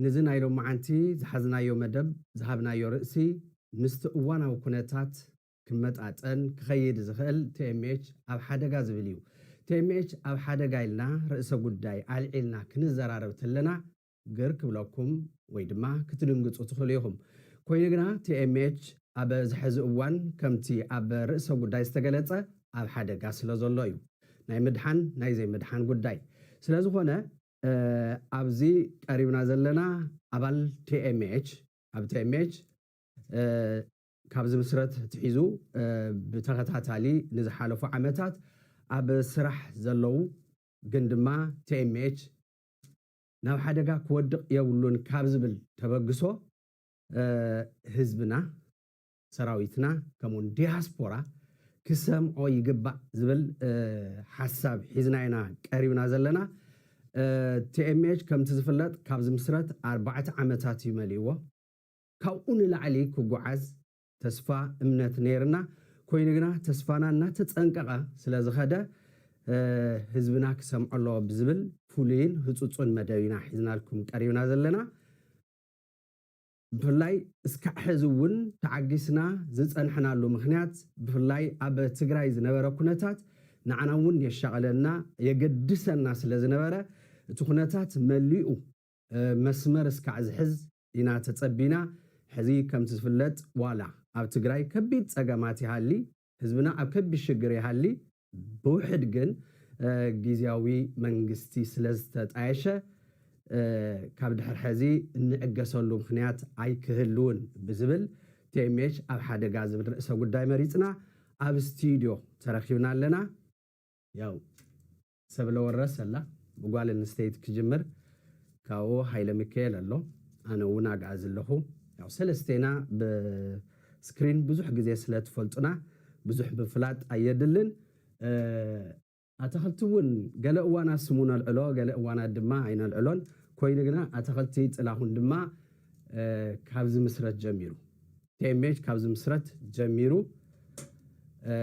ንዚ ናይ ሎምዓንቲ ዝሓዝናዮ መደብ ዝሃብናዮ ርእሲ ምስቲ እዋናዊ ኩነታት ክመጣጠን ክኸይድ ዝኽእል tmh ኣብ ሓደጋ ዝብል እዩ። tmh ኣብ ሓደጋ ኢልና ርእሰ ጉዳይ ኣልዒልና ክንዘራረብ ተለና ግር ክብለኩም ወይ ድማ ክትድንግጹ ትኽእሉ ኢኹም። ኮይኑ ግና TMH ኣብ ዝሐዚ እዋን ከምቲ ኣብ ርእሰ ጉዳይ ዝተገለጸ ኣብ ሓደጋ ስለ ዘሎ እዩ ናይ ምድሓን ናይ ዘይምድሓን ጉዳይ ስለ ዝኾነ ኣብዚ ቀሪብና ዘለና ኣባል TMH ኣብ TMH ካብ ዝምስረት ትሒዙ ብተኸታታሊ ንዝሓለፉ ዓመታት ኣብ ስራሕ ዘለዉ ግን ድማ TMH ናብ ሓደጋ ክወድቕ የብሉን ካብ ዝብል ተበግሶ ህዝብና፣ ሰራዊትና ከምኡውን ዲያስፖራ ክሰምዖ ይግባእ ዝብል ሓሳብ ሒዝና ኢና ቀሪብና ዘለና። TMH ከምቲ ዝፍለጥ ካብ ዝምስረት ኣርባዕተ ዓመታት እዩ መሊእዎ። ካብኡ ንላዕሊ ክጉዓዝ ተስፋ እምነት ነይርና ኮይኑ ግና ተስፋና እናተፀንቀቐ ስለዝኸደ ህዝብና ክሰምዖ ኣለዎ ብዝብል ፍሉይን ህፁፁን መደብ ኢና ሒዝናልኩም ቀሪብና ዘለና። ብፍላይ እስካዕ ሕዚ እውን ተዓጊስና ዝፀንሕናሉ ምኽንያት ብፍላይ ኣብ ትግራይ ዝነበረ ኩነታት ንዓና እውን የሻቕለና የገድሰና ስለዝነበረ እቲ ኩነታት መሊኡ መስመር እስካዕ ዝሕዝ ኢና ተጸቢና ሕዚ ከምቲ ዝፍለጥ ዋላ ኣብ ትግራይ ከቢድ ጸገማት ይሃሊ ህዝብና ኣብ ከቢድ ሽግር ይሃሊ ብውሕድ ግን ጊዝያዊ መንግስቲ ስለዝተጣየሸ ካብ ድሕር ሕዚ እንዕገሰሉ ምኽንያት ኣይክህልውን ብዝብል tmh ኣብ ሓደጋ ዝብል ርእሰ ጉዳይ መሪጽና ኣብ ስቲድዮ ተረኪብና ኣለና ያው ሰብለ ወረስ ኣላ ብጓል ኣንስተይቲ ክጅምር ካብኡ ሃይለሚከኤል ኣሎ ኣነ እውን ኣግኣዚ ኣለኹ ያው ሰለስቴና ብ ስክሪን ብዙሕ ግዜ ስለ ትፈልጡና ብዙሕ ምፍላጥ ኣየድልን እ ኣታኽልቲ እውን ገለ እዋናት ስሙ ነልዕሎ ገለ እዋናት ድማ ኣይነልዕሎን ኮይኑ ግና ኣታኽልቲ ጥላሁን ድማ እ ካብ ዝምስረት ጀሚሩ tmh ካብ ዝምስረት ጀሚሩ እ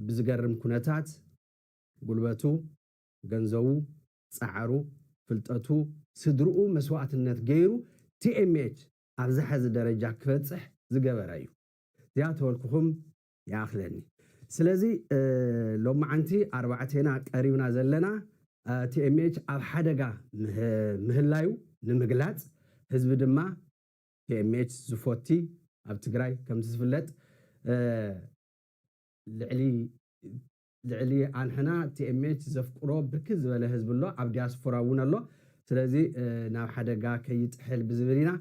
ብዝገርም ኩነታት ጉልበቱ፣ ገንዘቡ፣ ጻዕሩ፣ ፍልጠቱ፣ ስድርኡ መስዋእትነት ገይሩ TMH ኣብዚ ሐዚ ደረጃ ክበጽሕ ዝገበረ እዩ። ዚኣተወልኩኹም ይኣኽለኒ። ስለዚ ሎምዓንቲ ኣርባዕቴና ቀሪብና ዘለና TMH ኣብ ሓደጋ ምህላዩ ንምግላጽ ህዝቢ ድማ TMH ዝፎቲ ኣብ ትግራይ ከምቲ ዝፍለጥ ልዕሊ ልዕሊ ኣንሕና TMH ዘፍቅሮ ብርክት ዝበለ ህዝቢ ኣሎ ኣብ ዲያስፎራ እውን ኣሎ ስለዚ ናብ ሓደጋ ከይጥሕል ብዝብል ኢና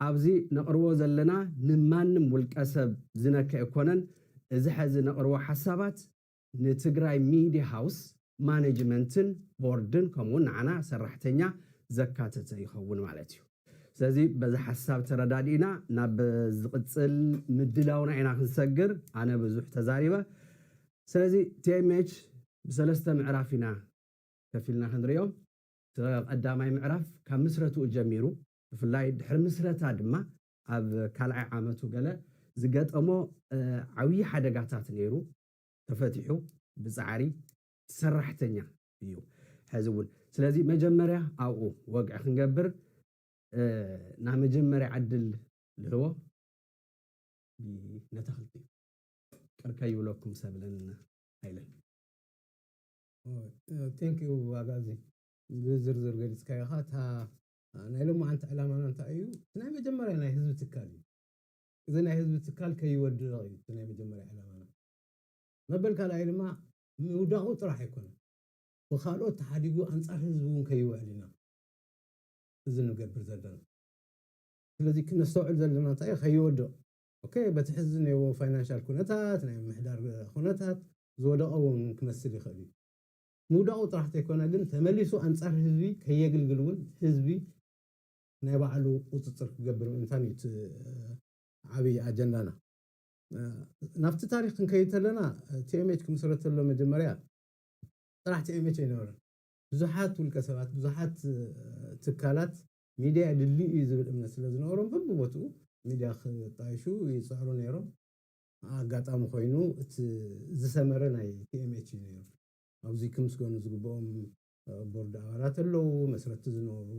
ኣብዚ ነቅርቦ ዘለና ንማንም ውልቀ ሰብ ዝነከ ኣይኮነን እዚ ሐዚ ነቅርቦ ሓሳባት ንትግራይ ሚድያ ሃውስ ማነጅመንትን ቦርድን ከምኡ እውን ንዓና ሰራሕተኛ ዘካተተ ይኸውን ማለት እዩ። ስለዚ በዚ ሓሳብ ተረዳዲእና ናብ ዝቕጽል ምድላውና ኢና ክንሰግር። ኣነ ብዙሕ ተዛሪበ። ስለዚ tmh ብሰለስተ ምዕራፍ ኢና ከፊልና ክንሪኦ። እቲ ቀዳማይ ምዕራፍ ካብ ምስረትኡ ጀሚሩ ብፍላይ ድሕሪ ምስረታ ድማ ኣብ ካልኣይ ዓመቱ ገለ ዝገጠሞ ዓብዪ ሓደጋታት ነይሩ ተፈቲሑ ብጻዕሪ ሰራሕተኛ እዩ ሐዚ እውን ስለዚ መጀመርያ ኣብኡ ወግዒ ክንገብር ናይ መጀመርያ ዕድል ልህቦ ነተኽልቲ እዩ ቅር ከይብለኩም ሰብለን ሃይለን ቴንክ ዩ ኣጋዚ ብዝርዝር ገሊፅካዮ ኢኻ እታ ናይ ሎማዓንቲ ዕላማና እንታይ እዩ እቲ ናይ መጀመርያ ናይ ህዝቢ ትካል እዩ እዚ ናይ ህዝቢ ትካል ከይወድቕ እዩ እቲ ናይ መጀመርያ ዕላማና መበል ካልኣይ ድማ ምውዳቑ ጥራሕ ኣይኮነን፣ ብኻልኦት ተሓዲጉ ኣንጻር ህዝቢ እውን ከይውዕል ኢና እዚ ንገብር ዘለና። ስለዚ ክነስተውዕል ዘለና እንታይ እዩ፣ ከይወድቕ ኦኬ፣ በቲ ሕዚ ዝኔዎ ፋይናንሻል ኩነታት፣ ናይ ምምሕዳር ኩነታት ዝወደቐ እውን ክመስል ይኽእል እዩ። ምውዳቑ ጥራሕ ተይኮነ ግን ተመሊሱ ኣንጻር ህዝቢ ከየግልግል እውን ህዝቢ ናይ ባዕሉ ቁጽጽር ክገብር ምእንታን እዩ እቲ ዓብይ ኣጀንዳና። ናብቲ ታሪኽ ክንከይድ ተለና ቲኤምኤች ክምስረት ተሎ መጀመርያ ጥራሕ ቲኤምኤች ኣይነበረን። ብዙሓት ውልቀ ሰባት፣ ብዙሓት ትካላት ሚድያ የድልዩ እዩ ዝብል እምነት ስለ ዝነበሮም በብቦትኡ ሚድያ ክጣየሹ ይጽዕሩ ነይሮም። ኣጋጣሚ ኮይኑ እቲ ዝሰመረ ናይ ቲኤምኤች እዩ ነይሩ። ኣብዚ ክምስገኑ ዝግብኦም ቦርድ ኣባላት ኣለዉ፣ መስረትቲ ዝነበሩ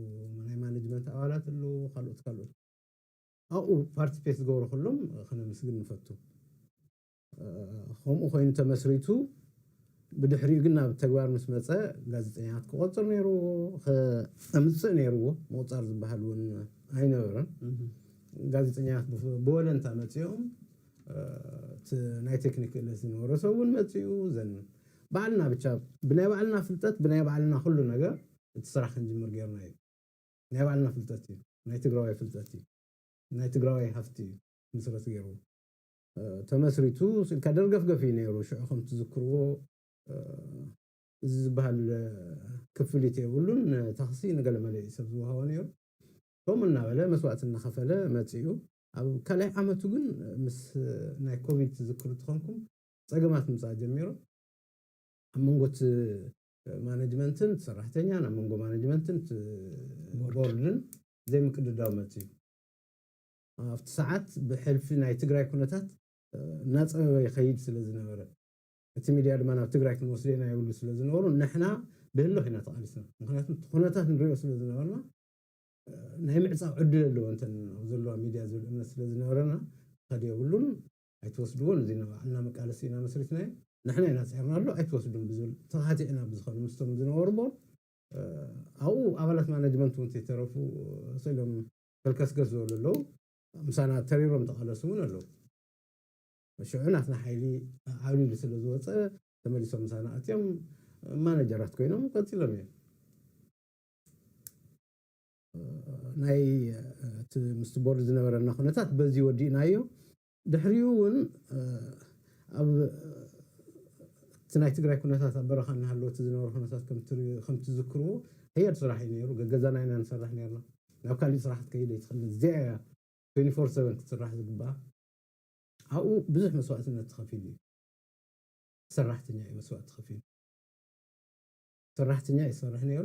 ናይ ማነጅመንት ኣባላት ኣለዉ፣ ካልኦት ካልኦት። ኣብኡ ፓርቲፔት ዝገብሩ ኩሎም ክነምስግን ንፈቱ። ከምኡ ኮይኑ ተመስሪቱ ብድሕሪኡ ግን ናብ ተግባር ምስ መጸ ጋዜጠኛታት ክቆጽር ነይርዎ፣ ከምጽእ ነይርዎ። ምቁጻር ዝበሃል እውን ኣይነበረን። ጋዜጠኛታት ብወለንታ መጺኦም እቲ ናይ ቴክኒክ ክእለት ዝነበሮ ሰብ እውን መጺኡ ዘን ባዕልና ብቻ ብናይ ባዕልና ፍልጠት ብናይ ባዕልና ኩሉ ነገር እቲ ስራሕ ክንጅምር ገይርና እዩ። ናይ ባዕልና ፍልጠት እዩ ናይ ትግራዋይ ፍልጠት እዩ ናይ ትግራዋይ ሃፍቲ እዩ ምስረት ገይሩ ተመስሪቱ ስኢልካ ደርገፍገፍ እዩ ነይሩ ሽዑ ከም ትዝክርዎ እዚ ዝበሃል ክፍሊት የብሉን ታክሲ ንገለመለ እዩ ሰብ ዝወሃቦ ነይሩ ከምኡ እናበለ መስዋእቲ እናኸፈለ መፂኡ ኣብ ካልኣይ ዓመቱ ግን ምስ ናይ ኮቪድ ትዝክሩ ትኾንኩም ፀገማት ምፃእ ጀሚሩ ኣብ መንጎ እቲ ማነጅመንትን ሰራሕተኛን ኣብ መንጎ ማነጅመንትን ቦርድን ዘይምቅድዳው መፂኡ። ኣብቲ ሰዓት ብሕልፊ ናይ ትግራይ ኩነታት እናፀበበ ይኸይድ ስለዝነበረ፣ እቲ ሚድያ ድማ ናብ ትግራይ ክንወስዶ ኢና ይብሉ ስለዝነበሩ ንሕና ብህልኽ ኢና ተቓሊስና። ምኽንያቱ እቲ ኩነታት ንሪኦ ስለዝነበርና ናይ ምዕፃው ዕድል ኣለወን እተን ኣብ ዘለዋ ሚድያ ዝብል እምነት ስለዝነበረና ክኸድ የብሉን ኣይትወስድዎን እዚ ንባዕልና መቃለሲ ኢና መስሪትናዮ ንሕና ኢና ጸርናሉ ኣይትወስዱን ብዝብል ተኻቲዕና ብዝኸኑ ምስቶም ዝነበሩ ቦርድ ኣብኡ ኣባላት ማናጅመንት እውን ተይተረፉ ስቅ ኢሎም ፈልከስገስ ዝበሉ ኣለው ምሳና ተሪሮም ተቓለሱ እውን ኣለው ሽዑ ናትና ሓይሊ ዓብሊሉ ስለ ዝወጸ ተመሊሶም ምሳና ኣትዮም ማናጀራት ኮይኖም ቀጺሎም እዮም ናይ እቲ ምስቲ ቦርድ ዝነበረና ኩነታት በዚ ወዲእናዮ ድሕሪኡ እውን ኣብ እቲ ናይ ትግራይ ኩነታት ኣብ በረኻ እናሃለወ እቲ ዝነበረ ኩነታት ከም ትዝክርዎ ሓያል ስራሕ እዩ ነይሩ ገገዛና ኢና ንሰርሕ ነርና ናብ ካሊእ ስራሕ ክትከይድ ኣይትኽእልን እዚኣ እያ 24 ሰቨን ክትስራሕ ዝግብኣ ኣብኡ ብዙሕ መስዋእትነት ተኸፊሉ እዩ ሰራሕተኛ እዩ መስዋእቲ ከፊሉ ሰራሕተኛ እዩ ዝሰርሕ ነይሩ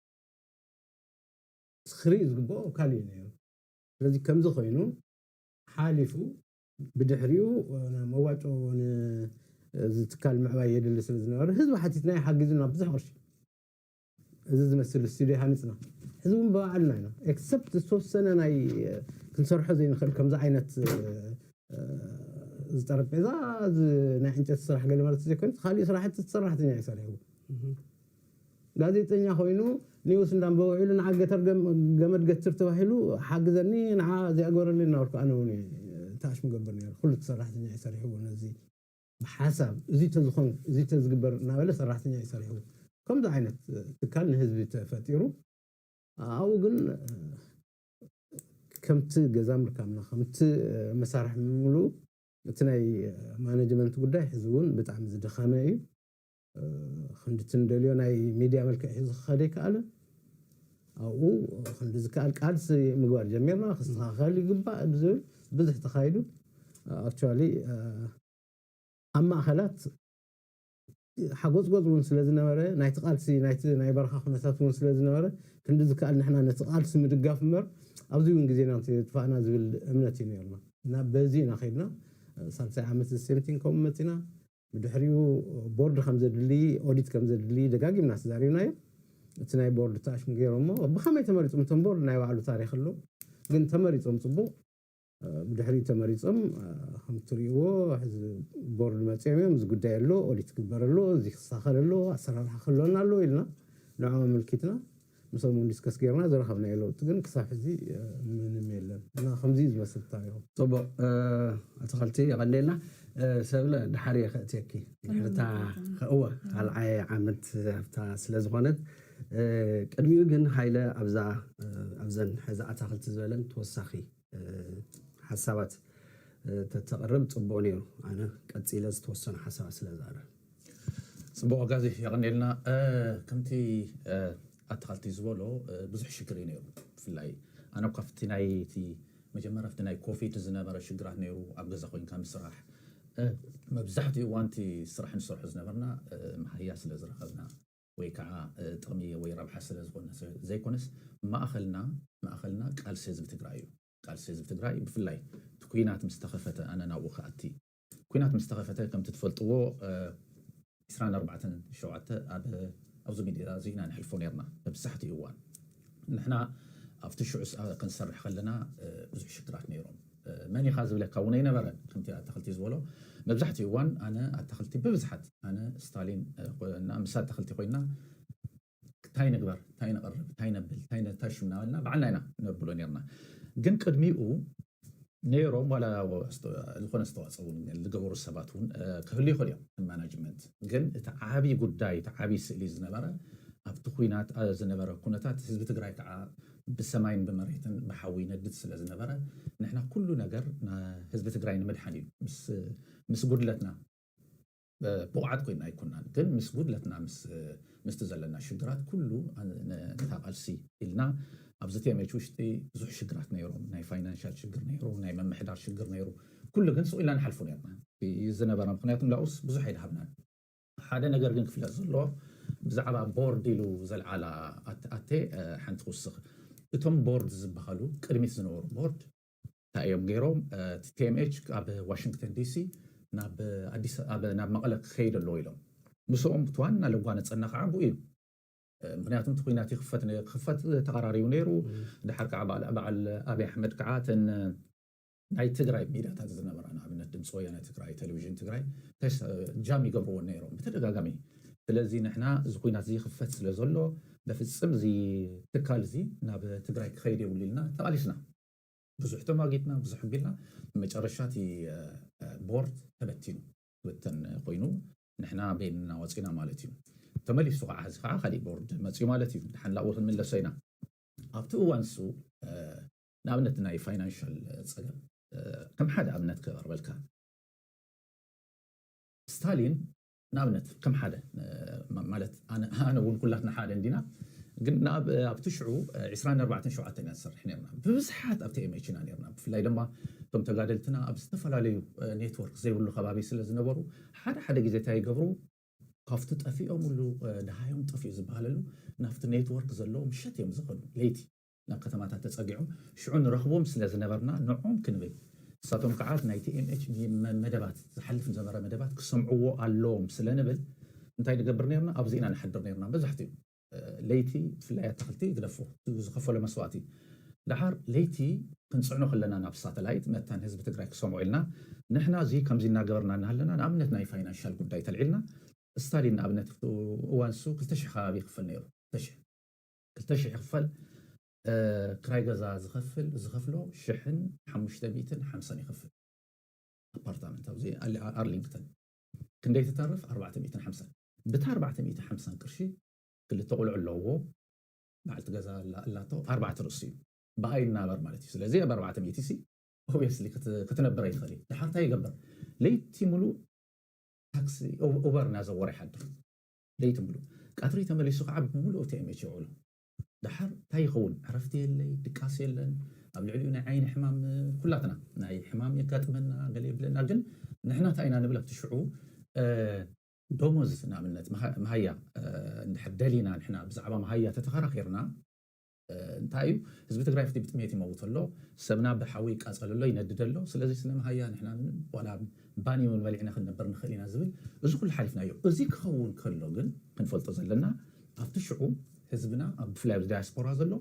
ክርኢ ዝግብኦ ካልእ እዩ ነይሩ። ስለዚ ከምዚ ኮይኑ ሓሊፉ ብድሕሪኡ መዋጮ ንእዚ ትካል ምዕባይ የድሊ ስለ ዝነበረ ህዝቢ ሓቲትናዮ ሓጊዙና ብዙሕ ቅርሺ እዚ ዝመስል ስቱድዮ ሃኒጽና። ሕዚ እውን ብባዕልና ኢና ኤክሰፕት ዝተወሰነ ናይ ክንሰርሖ ዘይንኽእል ከምዚ ዓይነት እዚ ጠረጴዛ እዚ ናይ ዕንጨቲ ስራሕ ገለ ማለት ዘይኮይኑስ ካልእ ስራሕቲ እቲ ሰራሕተኛ እዩ ሰሪሕዎ። ጋዜጠኛ ኮይኑ ኒውስ እንዳንበበ ውዒሉ ንዓ ገተር ገመድ ገትር ተባሂሉ ሓግዘኒ ንዓ እዚኣ ግበረለይ እናበልኩ ኣነ ውን እየ ታሽ ምገብር ነይረ ኩሉ እቲ ሰራሕተኛ እዩ ሰሪሕዎ ነዚ ብሓሳብ እዙይ ተዝኾን እዙይ ተዝግበር እናበለ ሰራሕተኛ እዩ ሰሪሕዎ ከምዚ ዓይነት ትካል ንህዝቢ ተፈጢሩ ኣብኡ ግን ከምቲ ገዛ ምርካብና ከምቲ መሳርሒ ምምልኡ እቲ ናይ ማነጅመንት ጉዳይ ሕዚ ውን ብጣዕሚ ዝደኸመ እዩ። ክንድቲ ንደልዮ ናይ ሚድያ መልክዕ ሒዙ ክኸድ ኣይከኣለን። ኣብኡ ክንዲ ዝከኣል ቃልሲ ምግባር ጀሚርና፣ ክስተኻኸል ይግባእ ብዝብል ብዙሕ ተኻይዱ። ኣክቹዋሊ ኣብ ማእኸላት ሓጎፅጎፅ እውን ስለዝነበረ ናይቲ ቃልሲ ናይቲ ናይ በረኻ ኩነታት እውን ስለዝነበረ ክንዲ ዝከኣል ንሕና ነቲ ቃልሲ ምድጋፍ እምበር ኣብዚ እውን ግዜና እንተየጥፋእና ዝብል እምነት እዩ ነይሩና እና በዚ ኢና ከይድና ሳልሳይ ዓመት the same thing ከምኡ መፂና። ብድሕሪኡ ቦርድ ከም ዘድሊ፣ ኦዲት ከም ዘድሊ ደጋጊምና ተዛሪብናዮ። እቲ ናይ ቦርድ ተኣሽሙ ገይሮሞ። ብኸመይ ተመሪጾም እቶም ቦርድ ናይ ባዕሉ ታሪኽ ኣሎ። ግን ተመሪጾም ጽቡቕ። ብድሕሪኡ ተመሪጾም ከም እትርእይዎ ሕዚ ቦርድ መጺኦም እዮም እዚ ጉዳይ ኣሎ፣ ኦዲት ክግበር ኣሎ፣ እዚ ክስተኻኸል ኣሎ፣ ኣሰራርሓ ክህልወና ኣለዎ ኢልና ንዕኦም ኣመልኪትና። ምሶም ውን ዲስከስ ጌርና ዝረኸብናዮ ለውጢ ግን ክሳብ ሕዚ ምንም የለን እና ከምዚ እዩ ዝመስል ታሪኹ። ጽቡቅ ኣትክልቲ የቀንየልና ሰብለ ደሓር እየ ከእትየኪ ድሕሪ እታ እወ ካልዓይ ዓመት ኣብታ ስለ ዝኮነት ቅድሚኡ ግን ሃይለ ኣብዛ ኣብዘን ሕዚ ኣታክልቲ ዝበለን ተወሳኪ ሓሳባት ተተቅርብ ጽቡቅ ኔሩ ኣነ ቀጺለ ዝተወሰኑ ሓሳባት ስለ ዝቀርብ ጽቡቅ ኣጋዚ የቀንየልና ከምቲ ኣታካልቲ ዝበሎ ብዙሕ ሽግር እዩ ነይሩ ብፍላይ ኣነ እኳ ኣብቲ ናይ እቲ መጀመርያ ኣብቲ ናይ ኮፊድ ዝነበረ ሽግራት ነይሩ ኣብ ገዛ ኮንካ ምስራሕ መብዛሕትኡ እዋን እቲ ስራሕ ንሰርሖ ዝነበርና መሃያ ስለ ዝረከብና ወይ ከዓ ጥቅሚ ወይ ረብሓ ስለ ዝኮነ ዘይኮነስ ማእከልና ማእከልና ቃልሲ ህዝቢ ትግራይ እዩ ቃልሲ ህዝቢ ትግራይ ብፍላይ እቲ ኩናት ምስ ተከፈተ ኣነ ናብኡ ክኣቲ ኩናት ምስ ተኸፈተ ከምቲ ትፈልጥዎ ዕስራን ኣርባዕተን ሸውዓተ ኣብ ኣብዚ ሚድያ እዚ ኢና ነሕልፎ ኔርና መብዛሕትኡ እዋን። ንሕና ኣብቲ ሽዑ ክንሰርሕ ከለና ብዙሕ ሽግራት ነይሮም። መን ኢኻ ዝብለካ እውን ኣይነበረን። ከምቲ ኣታኽልቲ ዝበሎ መብዛሕትኡ እዋን ኣነ ኣታኽልቲ ብብዝሓት ኣነ ስታሊን እና ምስ ኣታኽልቲ ኮይና ታይ ንግበር ታይ ነቕርብ ታይ ነብል ታይ ነተሹ እናበልና ባዕልና ኢና ነብሎ ኔርና ግን ቅድሚኡ ነይሮም ዋላ ዝኾነ ኣስተዋፅኦ እውን ዝገበሩ ሰባት እውን ክህሉ ይኽእሉ እዮም ማናጅመንት ግን እቲ ዓብዪ ጉዳይ እቲ ዓብዪ ስእሊ ዝነበረ ኣብቲ ኩናት ዝነበረ ኩነታት ህዝቢ ትግራይ ከዓ ብሰማይን ብመሬትን ብሓዊ ይነድድ ስለ ዝነበረ ንሕና ኩሉ ነገር ህዝቢ ትግራይ ንምድሓን እዩ ምስ ጉድለትና ብቑዓት ኮይና ኣይኮናን ግን ምስ ጉድለትና ምስቲ ዘለና ሽግራት ኩሉ ነታ ቃልሲ ኢልና ኣብዚ tmh ውሽጢ ብዙሕ ሽግራት ነይሮም ናይ ፋይናንሻል ሽግር ነይሩ ናይ ምምሕዳር ሽግር ነይሩ ኩሉ ግን ሱቕ ኢልና ንሓልፎ ነይርና እዩ ዝነበረ ምኽንያቱ ንኣኡስ ብዙሕ ኣይድሃብናን ሓደ ነገር ግን ክፍለጥ ዘለዎ ብዛዕባ ቦርድ ኢሉ ዘልዓላ ኣቴ ሓንቲ ክውስኽ እቶም ቦርድ ዝበሃሉ ቅድሚት ዝነበሩ ቦርድ እንታይ እዮም ገይሮም እቲ ቲኤምኤች ካብ ዋሽንግተን ዲሲ ናብ መቐለ ክኸይድ ኣለዎ ኢሎም ምስኦም እቲ ዋና ለጓ ነፀና ከዓ ብኡ እዩ ምክንያቱ እቲ ኩናት ይክፈት ክክፈት ተቀራሪቡ ነይሩ ድሓር ከዓ በዓል ኣብይ ኣሕመድ ከዓ እተን ናይ ትግራይ ሚድያታት ዝነበራ ንኣብነት ድምፂ ወያነ ትግራይ ቴሌቪዥን ትግራይ ጃም ይገብርዎን ነይሮም ብተደጋጋሚ ስለዚ ንሕና እዚ ኩናት እዚ ክፈት ስለ ዘሎ በፍፅም እዚ ትካል እዚ ናብ ትግራይ ክኸይድ የብሉ ኢልና ተቃሊስና ብዙሕ ተሟጊትና ብዙሕ ኣቢልና መጨረሻ እቲ ቦርድ ተበቲኑ ክብተን ኮይኑ ንሕና በይንና ወፂና ማለት እዩ። ተመሊሱ ከዓ እዚ ከዓ ካሊእ ቦርድ መፅዩ ማለት እዩ። ደሓን ናብኡ ክንምለሶ ኢና። ኣብቲ እዋን ንሱ ንኣብነት ናይ ፋይናንሻል ፀገም ከም ሓደ ኣብነት ከቅርበልካ ስታሊን ንኣብነት ከም ሓደ ማለት ኣነ ውን ኩላትና ሓደ እንዲና ግን ኣብቲ ሽዑ ዕስራን ኣርባዕተን ሸውዓተን ኢና ንሰርሕ ኔርና ብብዝሓት ኣብ TMH ኢና ኔርና ብፍላይ ደማ እቶም ተጋደልትና ኣብ ዝተፈላለዩ ኔትወርክ ዘይብሉ ከባቢ ስለ ዝነበሩ ሓደ ሓደ ግዜ ታይ ይገብሩ ካብቲ ጠፊኦምሉ ደሃዮም ጠፊኡ ዝብሃለሉ ናብቲ ኔትወርክ ዘለዎ ምሸት እዮም ዝኸዱ ለይቲ ናብ ከተማታት ተጸጊዖም ሽዑ ንረኽቦም ስለ ዝነበርና ንዕኦም ክንብል ንሳቶም ከኣ ናይ TMH መደባት ዝሓልፍ ዝነበረ መደባት ክሰምዕዎ ኣሎዎም ስለ ንብል እንታይ ንገብር ኔርና ኣብዚ ኢና ንሓድር ኔርና መብዛሕትኡ ለይቲ ብፍላይ ኣታኽልቲ ይግደፎ እቲ ዝኸፈሎ መስዋእቲ ደሓር ለይቲ ክንጽዕኖ ከለና ናብ ሳተላይት መታን ህዝቢ ትግራይ ክሰምዖ ኢልና ንሕና እዚ ከምዚ እናገበርና እናሃለና ንኣብነት ናይ ፋይናንሻል ጉዳይ ተልዒልና ስታሊን ንኣብነት ኣብቲ እዋን ንሱ ክልተ ሽሕ ከባቢ ይኽፈል ኔሩ ክልተ ሽሕ ክልተ ሽሕ ይኽፈል ክራይ ገዛ ዝኸፍል ዝኸፍሎ ሽሕን ሓሙሽተ ሚእትን ሓምሳን ይኸፍል ኣፓርታመንት ኣብዚ ኣርሊንግተን ክንደይ ትተርፍ ኣርባዕተ ሚእትን ሓምሳን ብታ ኣርባዕተ ሚእቲ ሓምሳን ቅርሺ ክልተ ቁልዑ ኣለውዎ በዓልቲ ገዛ ኣላቶ ኣርባዕተ ርእሱ እዩ ብኣ ይናበር ማለት እዩ ስለዚ ኣብ ኣርባዕተ ሚእቲ ሲ ኦብስሊ ክትነብር ኣይትኽእል እዩ ድሓር እንታይ ይገበር ለይቲ ሙሉእ ታክሲ ኡበር እናዘወረ ይሓድር ለይቲ ምሉእ፣ ቀትሪ ተመሊሱ ከኣ ብምሉኡ ተኤሜች ይውዕሎ። ደሓር ታይ ይኸውን ዕረፍቲ የለይ ድቃስ የለን ኣብ ልዕሊኡ ናይ ዓይኒ ሕማም ኩላትና ናይ ሕማም የጋጥመና ገለ የብለና ግን ንሕና ታይ ኢና ንብል ኣብቲ ሽዑ ዶሞዝ ንኣብነት መሃያ እንድሕር ደሊና ንሕና ብዛዕባ መሃያ ተተኸራኺርና እንታይ እዩ ህዝቢ ትግራይ ሕጂ ብጥሜት ይመውት ኣሎ ሰብና ብሓዊ ይቃፀል ኣሎ ይነድድ ኣሎ ስለዚ ስለ መሃያ ንሕና ምንም ዋላ ባኒ እውን በሊዕና ክንነበር ንኽእል ኢና ዝብል እዚ ኩሉ ሓሊፍናዮ እዚ ክኸውን ከሎ ግን ክንፈልጦ ዘለና ኣብቲ ሽዑ ህዝብና ኣብ ብፍላይ ኣብዚ ዳያስፖራ ዘሎ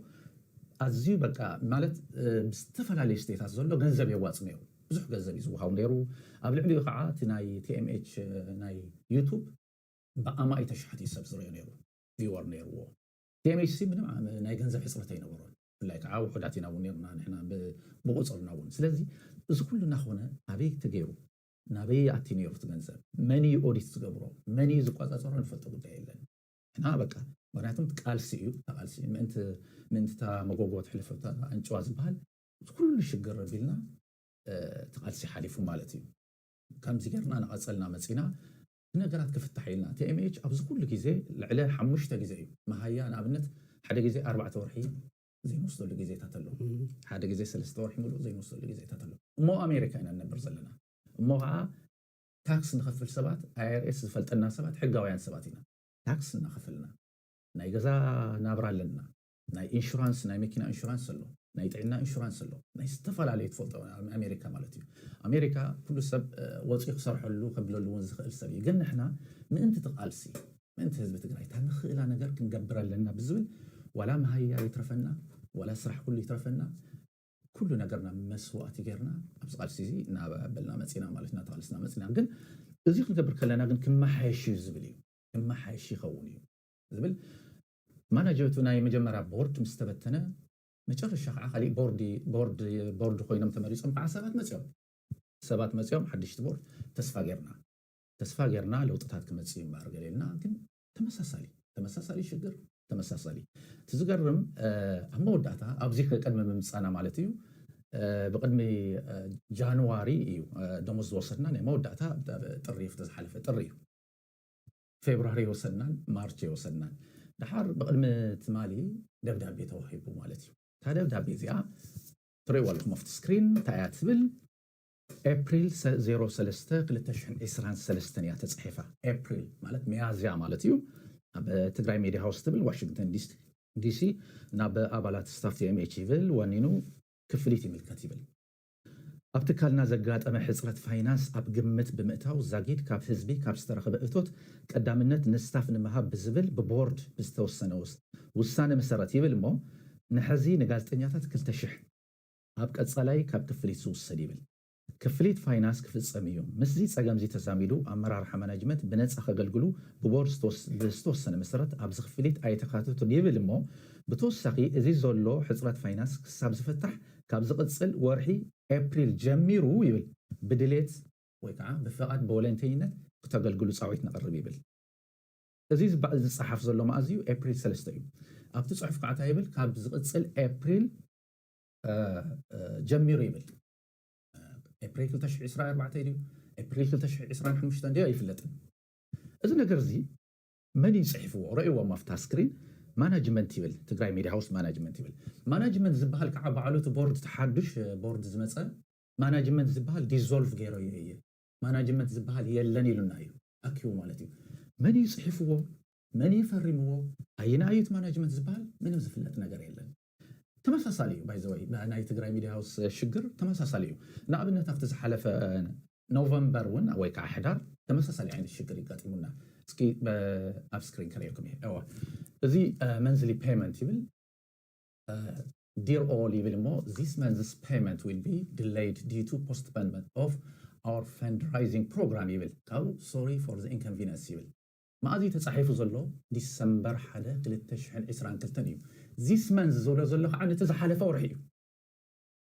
ኣዝዩ በቃ ማለት ብዝተፈላለዩ ስቴታት ዘሎ ገንዘብ የዋፅ ነይሩ ብዙሕ ገንዘብ እዩ ዝወሃቡ ነይሩ ኣብ ልዕሊኡ ከዓ እቲ ናይ tmh ናይ ዩቱብ ብኣማኢተ ሸሓት እዩ ሰብ ዝሪኦ ነይሩ ቪወር ነይርዎ ቲኤምኤችሲ ምንም ናይ ገንዘብ ሕፅረት ኣይነበሮን ብፍላይ ከዓ ውሑዳት ኢና እውን ነርና ንሕና ብቁፅርና እውን ስለዚ እዚ ኩሉ እናኾነ ኣበይ ተገይሩ ናበይ ኣቲ ነይሩ እቲ ገንዘብ መን እዩ ኦዲት ዝገብሮ መን እዩ ዝቆፃፀሮ ንፈልጦ ጉዳይ የለን ንሕና በቃ ምክንያቱም ቃልሲ እዩ እታ ቃልሲ ምእንቲ ምእንቲ እታ መጎጎ ትሕልፍ እታ ኣንጭዋ ዝበሃል እዚ ኩሉ ሽግር ኣቢልና እቲ ቃልሲ ሓሊፉ ማለት እዩ ከምዚ ገርና እናቐፀልና መፂና ነገራት ክፍታሕ ኢልና tmh ኣብዚ ኩሉ ግዜ ልዕለ ሓሙሽተ ግዜ እዩ መሃያ ንኣብነት ሓደ ግዜ ኣርባዕተ ወርሒ ዘይንወስደሉ ግዜታት ኣሎ ሓደ ግዜ ሰለስተ ወርሒ ምሉእ ዘይንወስደሉ ግዜታት ኣሎ እሞ ኣሜሪካ ኢና ንነብር ዘለና እሞ ከኣ ታክስ ንኸፍል ሰባት irs ዝፈልጠና ሰባት ሕጋውያን ሰባት ኢና ታክስ እናኸፈልና ናይ ገዛ ናብራ ኣለና ናይ ኢንሹራንስ ናይ መኪና ኢንሹራንስ ኣሎ ናይ ጥዕና ኢንሹራንስ ኣሎ ናይ ዝተፈላለዩ ትፈልጦ ኣሜሪካ ማለት እዩ ኣሜሪካ ኩሉ ሰብ ወፂኡ ክሰርሐሉ ከብለሉ እውን ዝኽእል ሰብ እዩ ግን ንሕና ምእንቲ ትቓልሲ ምእንቲ ህዝቢ ትግራይ እታ ንኽእላ ነገር ክንገብር ኣለና ብዝብል ዋላ መሃያ ይትረፈና ዋላ ስራሕ ኩሉ ይትረፈና ኩሉ ነገርና መስዋእቲ ጌርና ኣብዚ ቃልሲ እዚ እናበልና መፂና ማለት እናተቓልስና መፂና ግን እዚ ክንገብር ከለና ግን ክመሓየሽ እዩ ዝብል እዩ ክመሓየሽ ይኸውን እዩ ዝብል ማናጀቱ ናይ መጀመርያ ቦርድ ምስ ተበተነ መጨረሻ ከዓ ካሊእ ቦርዲ ቦርድ ቦርድ ኮይኖም ተመሪፆም ከዓ ሰባት መፅዮም ሰባት መፅዮም ሓድሽቲ ቦርድ ተስፋ ገይርና ተስፋ ገይርና ለውጥታት ክመፅእ እዩ እምበኣር ገለ ኢልና ግን ተመሳሳሊ ተመሳሳሊ ሽግር ተመሳሳሊ እቲ ዝገርም ኣብ መወዳእታ ኣብዚ ቅድሚ ምምፃና ማለት እዩ ብቅድሚ ጃንዋሪ እዩ ደሞዝ ዝወሰድና ናይ መወዳእታ ጥሪ እዩ ዝሓለፈ ጥሪ እዩ ፌብርዋሪ የወሰናን ማርች የወሰናን ደሓር ብቕድሚ ትማሊ ደብዳቤ ተዋሂቡ ማለት እዩ። እታ ደብዳቤ እዚኣ ትርእይዋ ኣለኹም ኣብቲ ስክሪን እንታይ እያ ትብል ኤፕሪል 03 2023 እያ ተፃሒፋ ኤፕሪል ማለት ሚያዝያ ማለት እዩ። ኣብ ትግራይ ሚዲያ ሃውስ ትብል ዋሽንግተን ዲሲ ናብ ኣባላት ስታፍ ቲኤምኤች ይብል ዋኒኑ ክፍሊት ይምልከት ይብል። ኣብ ትካልና ዘጋጠመ ሕፅረት ፋይናንስ ኣብ ግምት ብምእታው ዛጊድ ካብ ህዝቢ ካብ ዝተረኽበ እቶት ቀዳምነት ንስታፍ ንምሃብ ብዝብል ብቦርድ ብዝተወሰነ ውሳነ መሰረት ይብል እሞ ንሐዚ ንጋዜጠኛታት ክልተ ሽሕ ኣብ ቀፃላይ ካብ ክፍሊት ዝውሰድ ይብል ክፍሊት ፋይናንስ ክፍፀም እዩ። ምስዚ ፀገምዚ ተዛሚዱ ኣመራርሓ ማናጅመንት ብነፃ ከገልግሉ ብቦርድ ብዝተወሰነ መሰረት ኣብዚ ክፍሊት ኣይተካተቱን ይብል እሞ ብተወሳኺ እዚ ዘሎ ሕፅረት ፋይናንስ ክሳብ ዝፍታሕ ካብ ዝቕጽል ወርሒ ኤፕሪል ጀሚሩ ይብል ብድሌት ወይ ከኣ ብፍቓድ ብወለንተኝነት ክተገልግሉ ጻዊዕት ነቕርብ ይብል። እዚ ዝባእል ዝጸሓፍ ዘሎ መኣዝ እዩ ኤፕሪል ሰለስተ እዩ። ኣብቲ ጽሑፍ ከኣ ታይ ይብል ካብ ዝቕጽል ኤፕሪል ጀሚሩ ይብል ኤፕሪል ክልተ ሽሕ ዕስራ ኣርባዕተ ድዩ ኤፕሪል ክልተ ሽሕ ዕስራን ሓሙሽተን ድዩ ኣይፍለጥን እዚ ነገርዚ መን እዩ ፅሒፍዎ ረእዎም ኣፍታ ስክሪን ማናጅመንት ይብል ትግራይ ሚድያ ሃውስ ማናጅመንት ይብል ማናጅመንት ዝብሃል ከዓ ባዕሉ እቲ ቦርድ እቲ ሓዱሽ ቦርድ ዝመፀ ማናጅመንት ዝብሃል ዲዞልቭ ገይረዮ እየ ማናጅመንት ዝብሃል የለን ኢሉና እዩ ኣኪቡ ማለት እዩ መን እዩ ፅሒፍዎ መን እዩ ፈሪምዎ ኣየናይ እዩ እቲ ማናጅመንት ዝብሃል ምንም ዝፍለጥ ነገር የለን። ተመሳሳሊ እዩ ባይ ዘ ወይ ናይ ትግራይ ሚድያ ሃውስ ሽግር ተመሳሳሊ እዩ ንኣብነት ኣብቲ ዝሓለፈ ኖቨምበር እውን ወይ ከዓ ሕዳር ተመሳሳሊ ዓይነት ሽግር ይጋጢሙና እስኪ ኣብ ስክሪን ከርእየኩም እየ እዋ እዚ መንዝሊ ፔመንት ይብል ዲር ኦል ይብል እሞ ዚስ መንዝስ ፔመንት ዊል ቢ ዲሌይድ ዲዩ ቱ ፖስትፖንመንት ኦፍ ኣወር ፈንድራይዚንግ ፕሮግራም ይብል ካብኡ ሶሪ ፎር ዘ ኢንኮንቪነንስ ይብል መኣዝ እዩ ተጻሒፉ ዘሎ ዲሰምበር ሓደ ክልተ ሽሕን ዕስራን ክልተን እዩ ዚስ መንዝ ዝብሎ ዘሎ ከኣ ነቲ ዝሓለፈ ወርሒ እዩ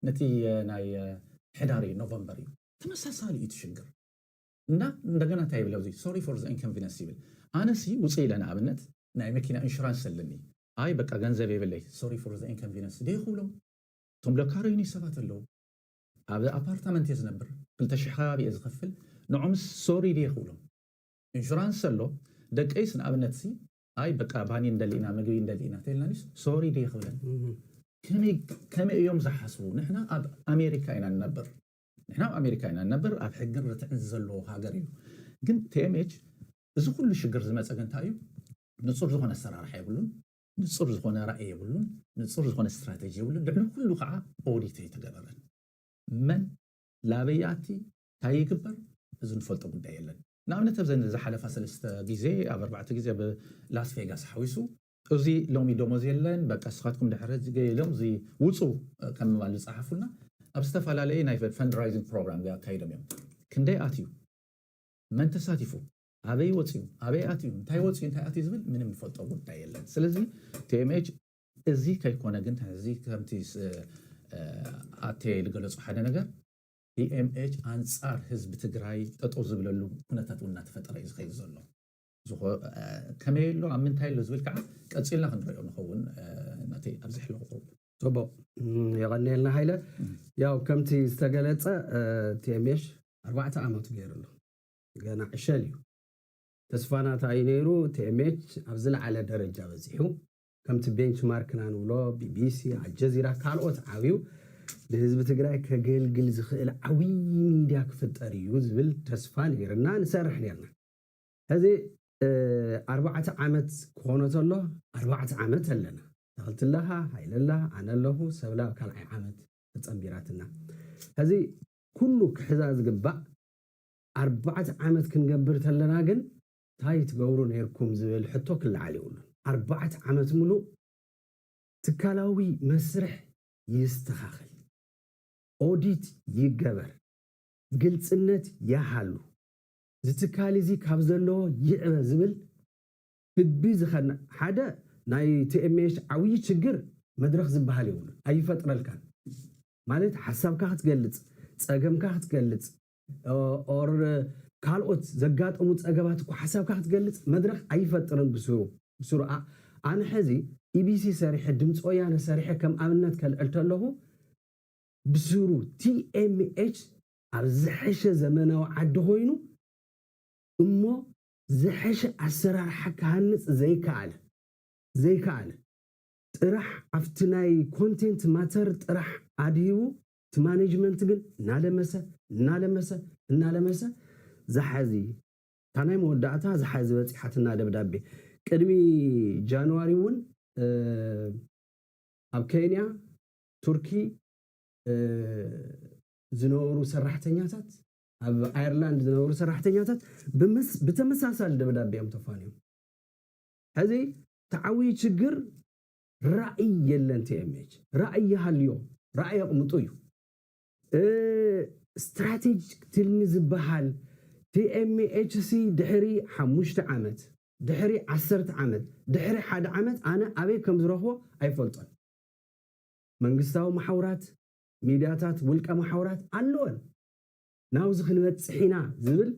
ነቲ ናይ ሕዳር እዩ ኖቨምበር እዩ ተመሳሳሊ እዩ እቲ ሽግር እንዳ እንደገና እንታይ ይብል ኣብዚ ሶሪ ፎር ዘ ኢንኮንቪነንስ ይብል ኣነ ሲ ውጽእ ኢለ ንኣብነት ናይ መኪና ኢንሹራንስ ኣለኒ ኣይ በቃ ገንዘብ የብለይ ሶሪ ፎር ዘ ኢንኮንቪነንስ ድየ ክብሎም እቶም ለካረዩኒ ሰባት ኣለዉ ኣብ ኣፓርታመንት እየ ዝነብር ክልተ ሽሕ ከባቢ እየ ዝኸፍል ንዖምስ ሶሪ ድየ ክብሎም ኢንሹራንስ ኣሎ ደቀይስ ንኣብነትሲ ኣይ በቃ ባኒ ንደሊ ኢና ምግቢ ንደሊ ኢና ተልናኒስ ሶሪ ድየ ክብለን ከመይ እዮም ዝሓስቡ? ንሕና ኣብ ኣሜሪካ ኢና ንነብር ንሕና ኣብ ኣሜሪካ ኢና ንነብር ኣብ ሕግን ርትዕን ዘለዎ ሃገር እዩ። ግን ቲኤምኤች እዚ ኩሉ ሽግር ዝመፀ ግን እንታይ እዩ ንፁር ዝኾነ ኣሰራርሓ የብሉን፣ ንፁር ዝኾነ ራእይ የብሉን፣ ንፁር ዝኾነ ስትራቴጂ የብሉን። ልዕሊ ኩሉ ከዓ ኦዲት ኣይተገበረን። መን ላበያቲ ታይ ይግበር እዚ ንፈልጦ ጉዳይ የለን ንኣብነት ኣብዘን ዝሓለፋ ሰለስተ ግዜ ኣብ ኣርባዕተ ግዜ ኣብ ላስ ቬጋስ ሓዊሱ እዚ ሎሚ ደሞዝ የለን በቃ ንስኻትኩም ድሕሪ ሕጂ ገ ኢሎም እዚ ውጹ ከም ምባል ዝጸሓፉልና ኣብ ዝተፈላለየ ናይ ፈንድራይዚንግ ፕሮግራም ገ ኣካይዶም እዮም ክንደይ ኣትዩ መን ተሳቲፉ ኣበይ ወጽዩ ኣበይ ኣትዩ እንታይ ወጽዩ እንታይ ኣትዩ ዝብል ምንም ንፈልጦ ጉዳይ የለን ስለዚ ቲኤምኤች እዚ ከይኮነ ግን ሕዚ ከምቲ ኣቴ ዝገለጹ ሓደ ነገር EMH ኣንፃር ህዝቢ ትግራይ ጠጠው ዝብለሉ ኩነታት እውን እናተፈጠረ እዩ ዝኸይድ ዘሎ። ከመይ ኣሎ ኣብ ምንታይ ኣሎ ዝብል ከዓ ቀፂልና ክንሪኦ ንኸውን ናተይ ኣብዚ ሕሎ ክቕርቡ። ፅቡቕ የቐንየልና ሃይለ። ያው ከምቲ ዝተገለፀ TMH ኣርባዕተ ዓመቱ ገይሩ ኣሎ። ገና ዕሸል እዩ። ተስፋና እንታይ እዩ ነይሩ TMH ኣብ ዝለዓለ ደረጃ በፂሑ ከምቲ ቤንች ማርክ እና ንብሎ ቢቢሲ፣ ኣልጀዚራ ካልኦት ዓብዩ ንህዝቢ ትግራይ ከገልግል ዝኽእል ዓብዪ ሚድያ ክፍጠር እዩ ዝብል ተስፋ ነይርና ንሰርሕ ነይርና ሕዚ ኣርባዕተ ዓመት ክኾኖ ተሎ ኣርባዕተ ዓመት ኣለና ተኽልትለኻ ሃይለላ ኣነ ኣለኹ ሰብለ ኣብ ካልዓይ ዓመት ተፀምቢራትና ሕዚ ኩሉ ክሕዛ ዝግባእ ኣርባዕተ ዓመት ክንገብር ተለና ግን ታይ ትገብሩ ነይርኩም ዝብል ሕቶ ክለዓል የብሉን። ኣርባዕተ ዓመት ምሉእ ትካላዊ መስርሕ ይስተኻኸል፣ ኦዲት ይገበር፣ ግልፅነት ያሃሉ፣ እዚ ትካል እዚ ካብ ዘለዎ ይዕበ ዝብል ህቢ ዝኸነ ሓደ ናይ tmh ዓብዪ ችግር መድረኽ ዝበሃል የብሉን፣ ኣይፈጥረልካን። ማለት ሓሳብካ ክትገልፅ፣ ፀገምካ ክትገልፅ፣ ኦር ካልኦት ዘጋጠሙ ፀገማት እኳ ሓሳብካ ክትገልፅ መድረኽ ኣይፈጥርን ብስሩ ብስሩ ኣ ኣነ ሐዚ ኢቢሲ ሰሪሐ ድምፂ ወያነ ሰሪሐ ከም ኣብነት ከልዕል ተለኹ ብስሩ ቲኤምኤች ኣብ ዝሐሸ ዘመናዊ ዓዲ ኾይኑ እሞ ዝሐሸ ኣሰራርሓ ክሃንፅ ዘይከኣለ ዘይከኣለ ጥራሕ ኣብቲ ናይ ኮንቴንት ማተር ጥራሕ ኣድሂቡ እቲ ማነጅመንት ግን እናለመሰ እናለመሰ እናለመሰ ዝሓዚ እታ ናይ መወዳእታ ዝሓዚ በፂሓትና ደብዳቤ ቅድሚ ጃንዋሪ እውን ኣብ ኬንያ ቱርኪ ዝነበሩ ሰራሕተኛታት ኣብ ኣየርላንድ ዝነበሩ ሰራሕተኛታት ብተመሳሳሊ ደብዳቤ እዮም ተፋንዮም ሕዚ ተዓብይ ችግር ራእይ የለን tmh ራእይ ይሃልዮ ራእይ ኣቅምጡ እዩ ስትራቴጅክ ትልሚ ዝባሃል tmh ሲ ድሕሪ ሓሙሽተ ዓመት ድሕሪ ዓሰርተ ዓመት ድሕሪ ሓደ ዓመት ኣነ ኣበይ ከም ዝረክቦ ኣይፈልጦን መንግስታዊ ማሓውራት ሚድያታት ውልቀ ማሓውራት ኣለወን ናብዚ ክንበፅሕ ኢና ዝብል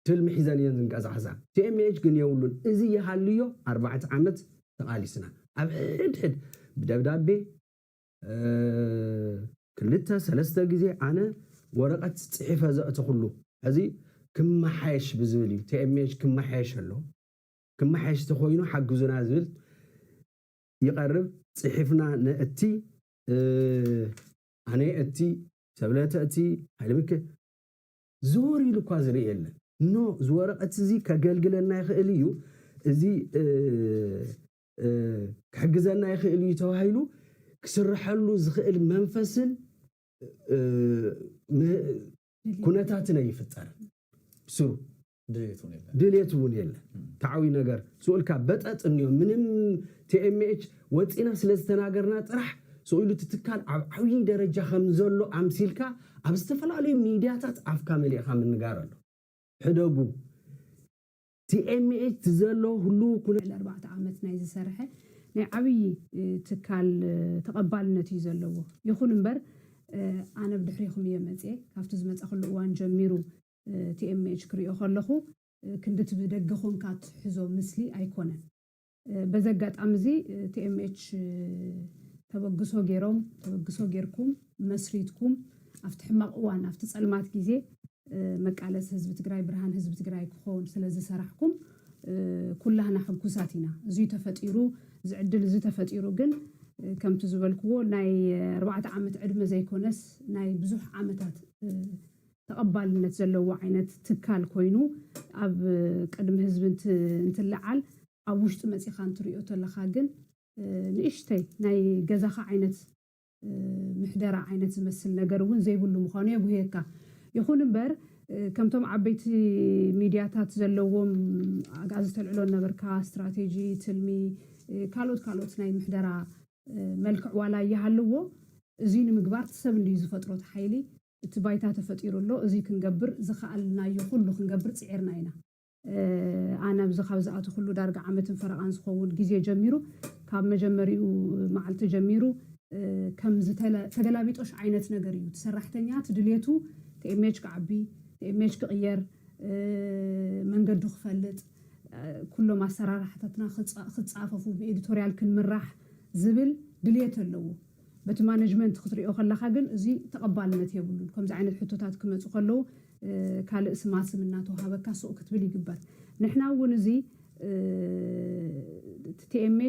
ትልሚ ሒዘን እየን ዝንቀዛሕዛ tmh ግን የብሉን እዚ ይሃልዮ ኣርባዕተ ዓመት ተቃሊስና ኣብ ሕድሕድ ብደብዳቤ ክልተ ሰለስተ ግዜ ኣነ ወረቀት ጺሒፈ ዘእተኩሉ ሐዚ ክማሓየሽ ብዝብል እዩ tmh ክማሓየሽ ኣለዎ ክማሓየሽ ተኮይኑ ሓግዙና ዝብል ይቀርብ ጺሒፍና ነእቲ ኣነ የእቲ ሰብለ ተእቲ ሃይለሚከ ዘወር ኢሉ እኳ ዝርኢ የለን። ን እዚ ወረቐት እዚ ከገልግለና ይኽእል እዩ፣ እዚ ክሕግዘና ይኽእል እዩ ተባሂሉ ክስርሐሉ ዝኽእል መንፈስን ኩነታትን ኣይፍጠርን። ብስሩ ድልየት እውን የለን። ተዓውዩ ነገር ስኡልካ በጠጥ እንዮ ምንም tmh ወጺእና ስለ ዝተናገርና ጥራሕ ስኢሉ እቲ ትካል ኣብ ዓብዪ ደረጃ ከም ዘሎ ኣምሲልካ ኣብ ዝተፈላለዩ ሚድያታት ኣፍካ መሊእኻ ምንጋር ኣሎ። ሕደጉ። TMH እቲ ዘሎ ህሉው ኩነታት። ልዕሊ ኣርባዕተ ዓመት ናይ ዝሰርሐ ናይ ዓብዪ ትካል ተቐባልነት እዩ ዘለዎ። ይኹን እምበር ኣነ ብድሕሬኹም እየ መጺኤ። ካብቲ ዝመጻኹሉ እዋን ጀሚሩ TMH ክሪኦ ከለኹ ክንድቲ ብደገ ኮንካ ትሕዞ ምስሊ ኣይኮነን። በዚ ኣጋጣሚ እዚ TMH ተበግሶ ጌሮም ተበግሶ ጌርኩም መስሪትኩም ኣብቲ ሕማቕ እዋን ኣብቲ ጸልማት ግዜ መቃለሲ ህዝቢ ትግራይ ብርሃን ህዝቢ ትግራይ ክኾን ስለ ዝሰራሕኩም ኩላህና ሕጉሳት ኢና። እዙይ ተፈጢሩ እዚ ዕድል እዚ ተፈጢሩ ግን ከምቲ ዝበልክዎ ናይ ኣርባዕተ ዓመት ዕድመ ዘይኮነስ ናይ ብዙሕ ዓመታት ተቐባልነት ዘለዎ ዓይነት ትካል ኮይኑ ኣብ ቅድሚ ህዝቢ እንትለዓል ኣብ ውሽጢ መፂኻ እንትሪኦ ተለኻ ግን ንእሽተይ ናይ ገዛኻ ዓይነት ምሕደራ ዓይነት ዝመስል ነገር እውን ዘይብሉ ምዃኑ የጉህየካ። ይኹን እምበር ከምቶም ዓበይቲ ሚድያታት ዘለዎም ኣግኣዚ ተልዕሎ እነበርካ ስትራቴጂ፣ ትልሚ፣ ካልኦት ካልኦት ናይ ምሕደራ መልክዕ ዋላ ይሃልዎ እዙይ ንምግባር እቲ ሰብ እንድዩ ዝፈጥሮ እቲ ሓይሊ እቲ ባይታ ተፈጢሩ ኣሎ፣ እዙይ ክንገብር ዝኸኣልናዮ ኹሉ ክንገብር ፅዒርና ኢና። ኣነ ኣብዚ ካብ ዝኣተኹሉ ዳርጋ ዓመትን ፈረቓን ዝኸውን ግዜ ጀሚሩ ካብ መጀመሪኡ መዓልቲ ጀሚሩ ከም ዝተለ ተገላቢጦሽ ዓይነት ነገር እዩ። እቲ ሰራሕተኛ እቲ ድሌቱ tmh ክዓቢ፣ tmh ክቕየር፣ መንገዱ ክፈልጥ፣ ኩሎም ኣሰራርሓታትና ክፃፈፉ፣ ብኤዲቶሪያል ክንምራሕ ዝብል ድሌት ኣለዎ። በቲ ማነጅመንት ክትሪኦ ከለኻ ግን እዚ ተቐባልነት የብሉን። ከምዚ ዓይነት ሕቶታት ክመጹ ከለዉ ካልእ ስማስም እናተውሃበካ ሱቕ ክትብል ይግበር። ንሕና እውን እዚ እቲ tmh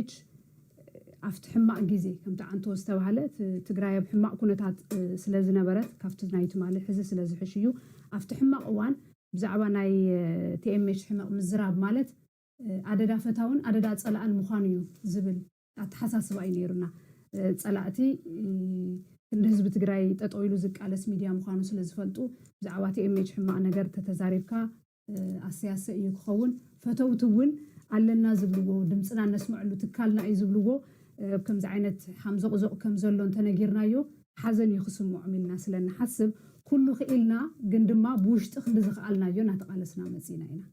ኣብቲ ሕማቕ ግዜ ከምቲ ዓንተቦ ዝተባህለ እቲ ትግራይ ኣብ ሕማቕ ኩነታት ስለ ዝነበረት ካብቲ ናይ ትማሊ ሕዚ ስለ ዝሕሽ እዩ ኣብቲ ሕማቕ እዋን ብዛዕባ ናይ tmh ሕመቕ ምዝራብ ማለት ኣደዳ ፈታውን ኣደዳ ጸላእን ምዃኑ እዩ ዝብል ኣተሓሳስባ እዩ ነይሩና። ፀላእቲ ክንዲ ህዝቢ ትግራይ ጠጠው ኢሉ ዝቃለስ ሚድያ ምዃኑ ስለዝፈልጡ ብዛዕባ tmh ሕማቕ ነገር ተተዛሪብካ ኣሰያሰ እዩ ክኸውን። ፈተውቲ እውን ኣለና ዝብልዎ ድምፅና እነስመዐሉ ትካልና እዩ ዝብልዎ ኣብ ከምዚ ዓይነት ሓምዞቕዞቕ ከምዘሎ እንተነጊርናዮ ሓዘን እዩ ክስመዖም ኢልና ስለንሓስብ ኩሉ ክኢልና ግን ድማ ብውሽጢ ክንዲ ዝኸኣልናዮ እናተቓለስና መፂእና ኢና።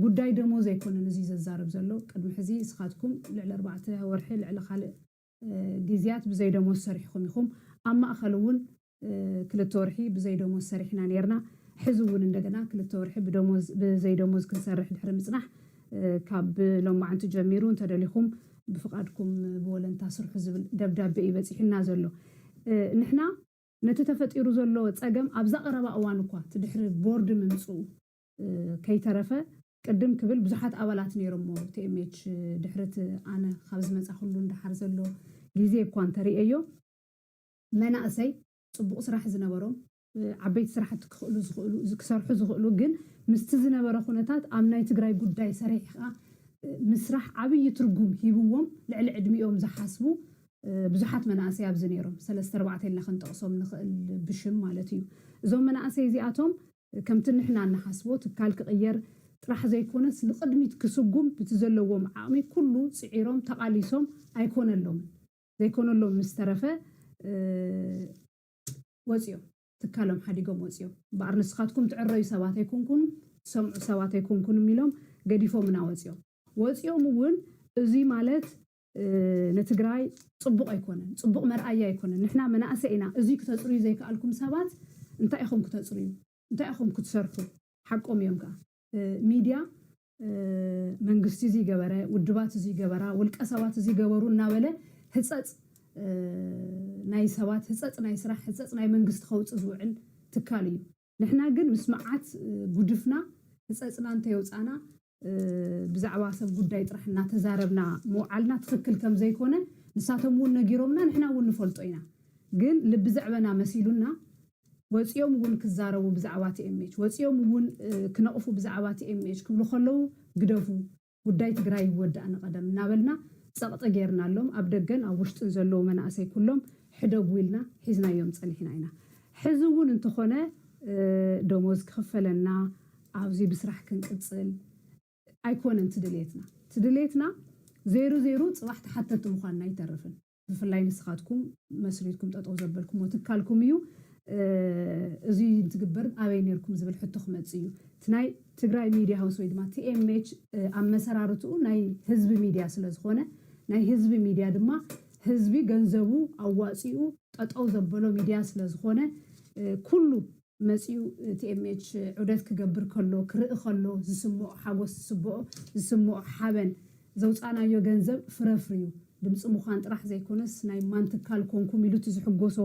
ጉዳይ ደሞዝ ኣይኮነን እዚ ዘዛርብ ዘሎ ቅድሚ ሕዚ እስኻትኩም ልዕሊ ኣርባዕተ ወርሒ ልዕሊ ካልእ ግዝያት ብዘይ ደሞዝ ሰሪሕኹም ኢኹም ኣብ ማእኸል እውን ክልተ ወርሒ ብዘይ ደሞዝ ሰሪሕና ነይርና ሕዚ እውን እንደገና ክልተ ወርሒ ብዘይ ደሞዝ ክንሰርሕ ድሕሪ ምፅናሕ ካብ ሎማዕንቲ ጀሚሩ እንተደሊኹም ብፍቓድኩም ብወለንታ ስርሑ ዝብል ደብዳቤ እዩ በፂሑና ዘሎ ንሕና ነቲ ተፈጢሩ ዘሎ ፀገም ኣብዛ ቐረባ እዋን እኳ እቲ ድሕሪ ቦርድ ምምፅኡ ከይተረፈ ቅድም ክብል ብዙሓት ኣባላት ነይሮሞ TMH ድሕሪ'ቲ ኣነ ካብ ዝመጻኹሉ ንደሓር ዘሎ ግዜ እኳ እንተርኤዮ መናእሰይ ጽቡቕ ስራሕ ዝነበሮም ዓበይቲ ስራሕቲ ክኽእሉ ዝኽእሉ ክሰርሑ ዝኽእሉ ግን ምስቲ ዝነበረ ኩነታት ኣብ ናይ ትግራይ ጉዳይ ሰሪሕኻ ምስራሕ ዓብዪ ትርጉም ሂብዎም ልዕሊ ዕድሚኦም ዝሓስቡ ብዙሓት መናእሰይ ኣብዚ ነይሮም ሰለስተ ኣርባዕተ ኢልና ክንጠቕሶም ንኽእል ብሽም ማለት እዩ እዞም መናእሰይ እዚኣቶም ከምቲ ንሕና እንሓስቦ ትካል ክቕየር ጥራሕ ዘይኮነስ ንቕድሚት ክስጉም ብቲ ዘለዎም ዓቕሚ ኩሉ ጽዒሮም ተቓሊሶም ኣይኮነሎምን። ዘይኮነሎም ምስ ተረፈ ወጺኦም። ትካሎም ሓዲጎም ወጺኦም። እምበኣር ንስኻትኩም ትዕረዩ ሰባት ኣይኮንኩምን፣ ትሰምዑ ሰባት ኣይኮንኩምን ኢሎም ገዲፎምና ወጺኦም። ወጺኦም እውን እዙይ ማለት ንትግራይ ፅቡቕ ኣይኮነን ፅቡቕ መርኣያ ኣይኮነን ንሕና መናእሰይ ኢና እዙይ ክተፅርዩ ዘይከኣልኩም ሰባት እንታይ ኢኹም ክተፅርዩ እንታይ ኢኹም ክትሰርሑ ሓቆም እዮም ከዓ ሚድያ መንግስቲ እዙይ ገበረ ውድባት እዙይ ገበራ ውልቀ ሰባት እዙይ ገበሩ እናበለ ህፀፅ ናይ ሰባት ህፀፅ ናይ ስራሕ ህፀፅ ናይ መንግስቲ ከውፅእ ዝውዕል ትካል እዩ። ንሕና ግን ምስ መዓት ጉድፍና ህጸጽና እንተየውጻእና ብዛዕባ ሰብ ጉዳይ ጥራሕ እናተዛረብና ምውዓልና ትኽክል ከምዘይኮነ ንሳቶም እውን ነጊሮምና ንሕና እውን ንፈልጦ ኢና ግን ልቢ ዘዕበና መሲሉና ወፂኦም እውን ክዛረቡ ብዛዕባ ቲኤምኤች ወፂኦም እውን ክነቕፉ ብዛዕባ ቲኤምኤች ክብሉ ከለዉ ግደፉ ጉዳይ ትግራይ ይወዳእ ንቐደም እናበልና ጸቕጢ ገይርናሎም፣ ኣብ ደገን ኣብ ውሽጥን ዘለዉ መናእሰይ ኩሎም ሕደጉ ኢልና ሒዝናዮም ጸኒሕና ኢና። ሕዚ እውን እንተኾነ ደሞዝ ክኽፈለና፣ ኣብዚ ብስራሕ ክንቅጽል ኣይኮነን እቲ ድልየትና። እቲ ድልየትና ዘይሩ ዘይሩ ጽባሕ ተሓተቲ ምዃንና ኣይተርፍን። ብፍላይ ንስኻትኩም መስሪትኩም ጠጠው ዘበልኩሞ ትካልኩም እዩ። እዙይ እንትግበር ኣበይ ነርኩም ዝብል ሕቶ ክመፅእ እዩ። እቲ ናይ ትግራይ ሚድያ ሃውስ ወይ ድማ ቲኤምኤች ኣመሰራርትኡ ናይ ህዝቢ ሚድያ ስለዝኾነ ናይ ህዝቢ ሚድያ ድማ ህዝቢ ገንዘቡ ኣዋፂኡ ጠጠው ዘበሎ ሚድያ ስለዝኾነ ኩሉ መጺኡ ቲኤምኤች ዑደት ክገብር ከሎ ክርኢ ከሎ ዝስምኦ ሓጎስ ዝስብኦ ዝስምኦ ሓበን ዘውጻእናዮ ገንዘብ ፍረ ኣፍርዩ ድምጺ ምዃን ጥራሕ ዘይኮነስ ናይ ማን ትካል ኮንኩም ኢሉ እቲ ዝሕጎሶ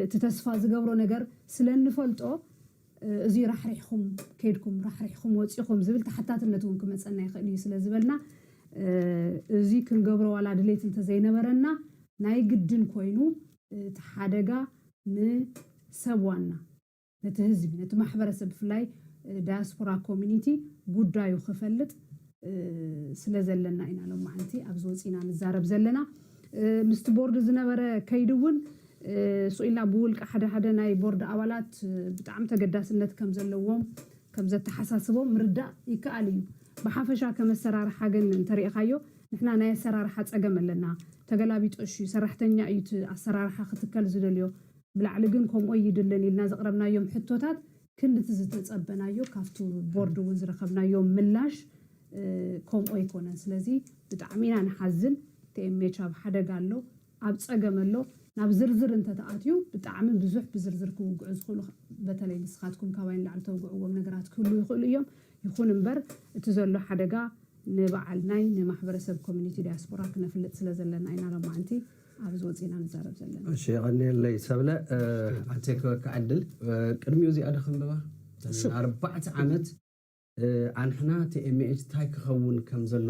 እቲ ተስፋ ዝገብሮ ነገር ስለ እንፈልጦ እዙይ ራሕሪሕኹም ከይድኩም ራሕሪሕኹም ወጺኹም ዝብል ተሓታትነት እውን ክመጸና ይኽእል እዩ ስለ ዝበልና እዙይ ክንገብሮ ዋላ ድሌት እንተዘይነበረና ናይ ግድን ኮይኑ እቲ ሓደጋ ንሰብ ዋና፣ ነቲ ህዝቢ፣ ነቲ ማሕበረሰብ ብፍላይ ዳያስፖራ ኮሚኒቲ ጉዳዩ ክፈልጥ ስለዘለና ኢና ሎማዕንቲ ኣብዚ ወፂእና ንዛረብ ዘለና። ምስቲ ቦርድ ዝነበረ ከይዲ እውን ሱቕ ኢልና ብውልቀ ሓደ ሓደ ናይ ቦርድ ኣባላት ብጣዕሚ ተገዳስነት ከምዘለዎም ከምዘተሓሳስቦም ምርዳእ ይከኣል እዩ። ብሓፈሻ ከም ኣሰራርሓ ግን እንተሪእኻዮ ንሕና ናይ ኣሰራርሓ ፀገም ኣለና ተገላቢጦሽ እዩ ሰራሕተኛ እዩ እቲ ኣሰራርሓ ክትከል ዝደልዮ ብላዕሊ ግን ከምኡ ኣይድልን ኢልና ዘቕረብናዮም ሕቶታት ክንዲ እቲ ዝተፀበናዮ ካብቲ ቦርድ እውን ዝረኸብናዮ ምላሽ ከምኡ ኣይኮነን ስለዚ ብጣዕሚ ኢና ንሓዝን tmh ኣብ ሓደጋ ኣሎ ኣብ ጸገም ኣሎ ናብ ዝርዝር እንተ ተኣትዩ ብጣዕሚ ብዙሕ ብዝርዝር ክውግዑ ዝኽእሉ በተለይ ንስኻትኩም ካባይ ንላዕሊ ተውግዕዎም ነገራት ክህልዉ ይኽእሉ እዮም ይኹን እምበር እቲ ዘሎ ሓደጋ ንባዓል ናይ ንማሕበረሰብ ኮሚኒቲ ዳያስፖራ ክነፍልጥ ስለ ዘለና ኢና ሎማዕንቲ ኣብዚ ወጺእና ንዛረብ ዘለና። እሺ የቐንየለይ ሰብለ። ኣንታይ ክበካ ዕድል ቅድሚኡ እዚኣ ዶ ክንብባ? እተን ኣርባዕተ ዓመት። ኣንሕና tmh ታይ ክኸውን ከም ዘሎ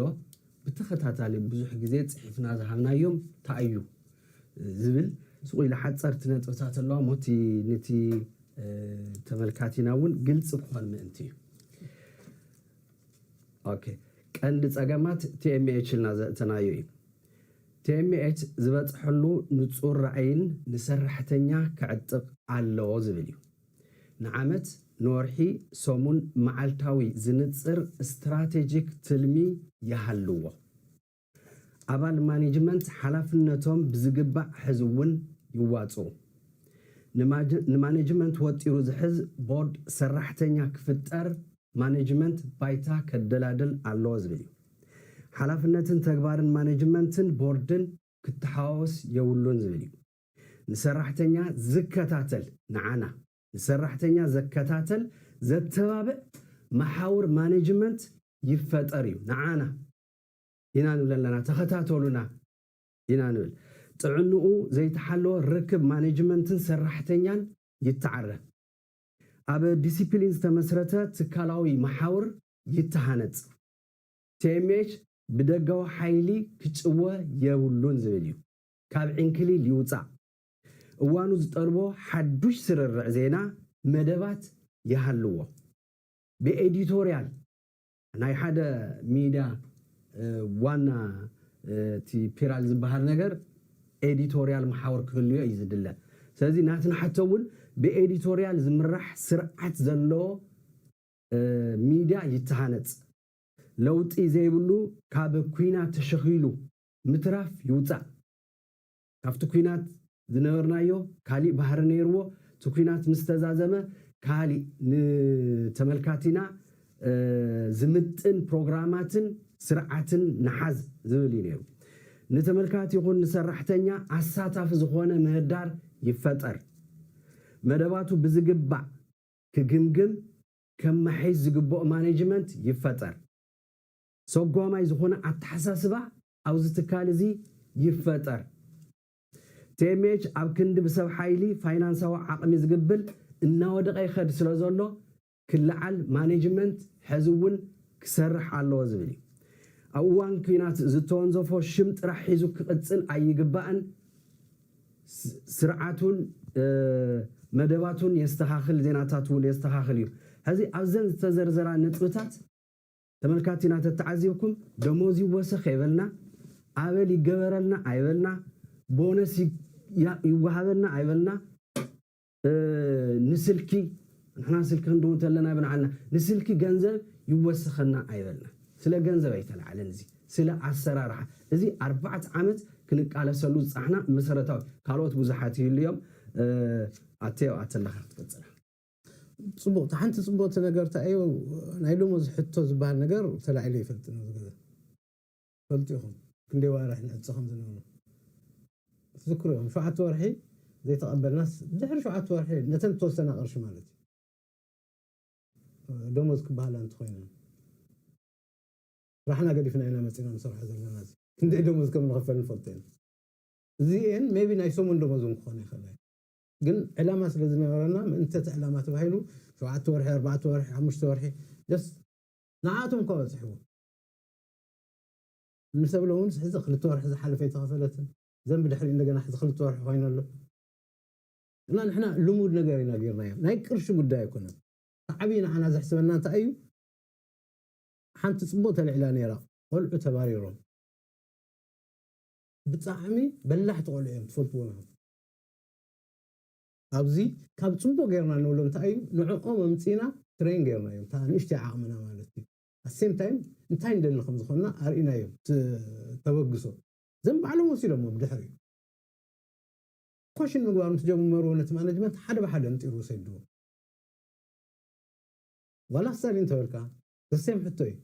ብተኸታታሊ ብዙሕ ግዜ ፅሒፍና ዝሃብናዮም ታይ እዩ ዝብል ስቕ ኢላ ሓፀርቲ ነጥብታት ኣለዋ እሞ እቲ ንቲ ተመልካቲና እውን ግልፂ ክኾን ምእንቲ እዩ። ኦኬ ቀንዲ ፀገማት tmh ኢልና ዘእተናዮ እዩ። tmh ዝበፅሐሉ ንፁር ራእይን ንሰራሕተኛ ክዕጥቕ ኣለዎ ዝብል እዩ። ንዓመት፣ ንወርሒ፣ ሰሙን፣ መዓልታዊ ዝንጽር ስትራቴጂክ ትልሚ ይሃልዎ። ኣባል ማኔጅመንት ሓላፍነቶም ብዝግባእ ሕዝውን ይዋጽኡ። ንማኔጅመንት ወጢሩ ዝሕዝ ቦርድ ሰራሕተኛ ክፍጠር ማኔጅመንት ባይታ ከደላድል ኣለዎ ዝብል እዩ። ሓላፍነትን ተግባርን ማኔጅመንትን ቦርድን ክተሓዋወስ የብሉን ዝብል እዩ። ንሰራሕተኛ ዝከታተል፣ ንዓና ንሰራሕተኛ ዘከታተል ዘተባብዕ መሓውር ማነጅመንት ይፈጠር እዩ። ንዓና ኢና ንብል ኣለና፣ ተኸታተሉና ኢና ንብል። ጥዕንኡ ዘይተሓለወ ርክብ ማነጅመንትን ሰራሕተኛን ይተዓረ። ኣብ ዲሲፕሊን ዝተመስረተ ትካላዊ መሓውር ይተሃነፅ። tmh ብደጋዊ ሓይሊ ክጭወ የብሉን ዝብል እዩ። ካብ ዕንክሊል ይውጻእ፣ እዋኑ ዝጠልቦ ሓዱሽ ስርርዕ ዜና፣ መደባት ይሃልዎ፣ ብኤዲቶርያል ናይ ሓደ ሚድያ ዋና እቲ ፒራል ዝበሃል ነገር ኤዲቶርያል መሓውር ክህልዮ እዩ ዝድለ። ስለዚ ናትና ሕቶ እውን ብኤዲቶርያል ዝምራሕ ስርዓት ዘለዎ ሚድያ ይተሃነጽ። ለውጢ ዘይብሉ ካብ ኲናት ተሸኺሉ ምትራፍ ይውጻእ ካብቲ ኩናት ዝነበርናዮ ካሊእ ባህሪ ነይርዎ እቲ ኩናት ምስ ተዛዘመ ካሊእ ንተመልካቲና ዝምጥን ፕሮግራማትን ስርዓትን ንሓዝ ዝብል እዩ ነይሩ ንተመልካቲ ይኹን ንሰራሕተኛ ኣሳታፊ ዝኾነ ምህዳር ይፈጠር መደባቱ ብዝግባእ ክግምግም ከማሒስ ዝግበኦ ማኔጅመንት ይፈጠር። ሰጓማይ ዝኾነ ኣተሓሳስባ ኣብዚ ትካል እዚ ይፈጠር። tmh ኣብ ክንዲ ብሰብ ሓይሊ ፋይናንሳዊ ዓቕሚ ዝግብል እናወደቐ ይኸድ ስለዘሎ ክለዓል ማኔጅመንት ሕዚ እውን ክሰርሕ ኣለዎ ዝብል እዩ። ኣብ እዋን ኲናት ዝተወንዘፎ ሽም ጥራሕ ሒዙ ክቕፅል ኣይግባእን ስርዓቱን መደባቱን የስተኻኽል ዜናታቱ እውን የስተኻኽል እዩ። ሕዚ ኣብዘን ዝተዘርዘራ ነጥብታት። ተመልካቲና ተተዓዚብኩም ደሞዝ ይወሰኽ ኣይበልና፣ ኣበል ይገበረልና ኣይበልና፣ ቦነስ ይወሃበና ኣይበልና፣ ንስልኪ ንሕና ስልኪ ክንድውል እንተለና ብንዓና ንስልኪ ገንዘብ ይወሰኸና ኣይበልና። ስለ ገንዘብ ኣይተላዕለን እዚ ስለ ኣሰራርሓ እዚ ኣርባዕተ ዓመት ክንቃለሰሉ ዝጸናሕና መሰረታዊ ካልኦት ብዙሓት ይህሉ እዮም ኣቴ ኣብኣ ተለኻ ክትቅጽላ። ጽቡቅ እታ ሓንቲ ጽቡቅቲ ነገር ታይ እዩ ናይ ዶሞዝ ሕቶ ዝባሃል ነገር ተላዒሉ ኣይፈልጥን ኣብዚ ገዛ ትፈልጡ ኢኹም ክንደይ ዋርሕ ንዕጽ ከም ዝነበሩ ትዝክሩ ኢኹም ሸውዓተ ወርሒ ዘይተቀበልናስ ድሕሪ ሸውዓተ ወርሒ ነተን እተወሰና ቅርሺ ማለት እዩ ዶሞዝ ክባሃላ እንተኾይነን ስራሕና ገዲፍና ኢና መጺና ንሰርሖ ዘለና እዚ ክንደይ ዶሞዝ ከም ንኽፈል ንፈልጦ ኢና እዚ እየን ሜይቢ ናይ ሰሙን ዶሞዝ ውን ክኾና ይኽእላ እየን ግን ዕላማ ስለ ዝነበረና ምእንቲ እቲ ዕላማ ተባሂሉ ሸውዓተ ወርሒ ኣርባዕተ ወርሒ ሓሙሽተ ወርሒ just ንዓኣቶም እኳ በጺሕዎም እንተብለ እውን ሕዚ ክልተ ወርሒ ዝሓለፈ ኣይተኸፈለትን ዘን ብድሕሪኡ እንደገና ሕዚ ክልተ ወርሒ ኮይኑ ኣሎ እና ንሕና ልሙድ ነገር ኢና ጌርናዮ ናይ ቅርሺ ጉዳይ ኣይኮነን እቲ ዓብዪ ንዓና ዘሕስበና እንታይ እዩ ሓንቲ ጽቡቕ ተልዒላ ነይራ ቆልዑ ተባሪሮም ብጣዕሚ በላሕቲ ቆልዑ እዮም ትፈልጥዎም ኢኹም ኣብዚ ካብ ጽቡቅ ጌርና ንብሎ እንታይ እዩ ንዕኦም ኣምጺእና ትሬን ጌርናዮም እታ ንእሽተይ ዓቅምና ማለት እዩ ኣት ሴም ታይም እንታይ ንደሊ ከም ዝኮና ኣርኢናዮም እቲ ተበግሶ ዘም ባዕሎም ወሲዶሞ ብድሕሪኡ ኮሽን ምግባር ምስ ጀመሩ ነቲ ማነጅመንት ሓደ ብሓደ ኣንጢሩ ሰድዎ ዋላ ስታሊን እንተበልካ ዘ ሴም ሕቶ እዩ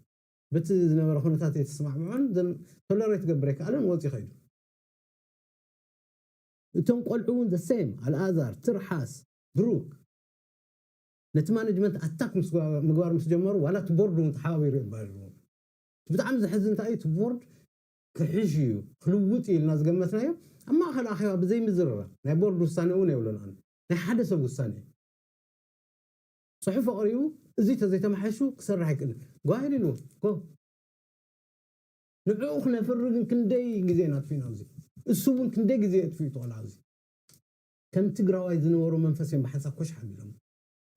በቲ ዝነበረ ኩነታት ኣይተስማዕምዖን ዘም ቶለሬት ክገብር ኣይከኣለን ወጽዩ ከይዱ። እቶም ቆልዑ ውን the same ኣልኣዛር፣ ትርሓስ፣ ብሩክ ነቲ ማነጅመንት ኣታክ ምግባር ምስ ጀመሩ ዋላ እቲ ቦርድ ውን ተሓባቢሩ የባርርዎም እቲ ብጣዕሚ ዘሕዝን እንታይ እዩ እቲ ቦርድ ክሕሽ እዩ ክልውጥ እዩ ኢልና ዝገመትናዮ ኣብ ማእከል ኣኼባ ብዘይ ምዝርራብ ናይ ቦርድ ውሳኔ ውን የብሎን ኣነ ናይ ሓደ ሰብ ውሳኔ እዩ ጽሑፍ ኣቕሪቡ እዚ ተዘይተማሕይሹ ክሰርሕ ኣይክእልን ጓሂ ኢልዎ ጎ ንዕኡ ክነፍሪ ግን ክንደይ ግዜ ኢና ኣጥፊእና ኣብዚ እሱ እውን ክንደይ ግዜ የጥፍኡ ተላ ኣብዚ ከም ትግራዋይ ዝነበሮ መንፈስ እዮም ብሓንሳብ ኮሽ ሓቢሎሞ።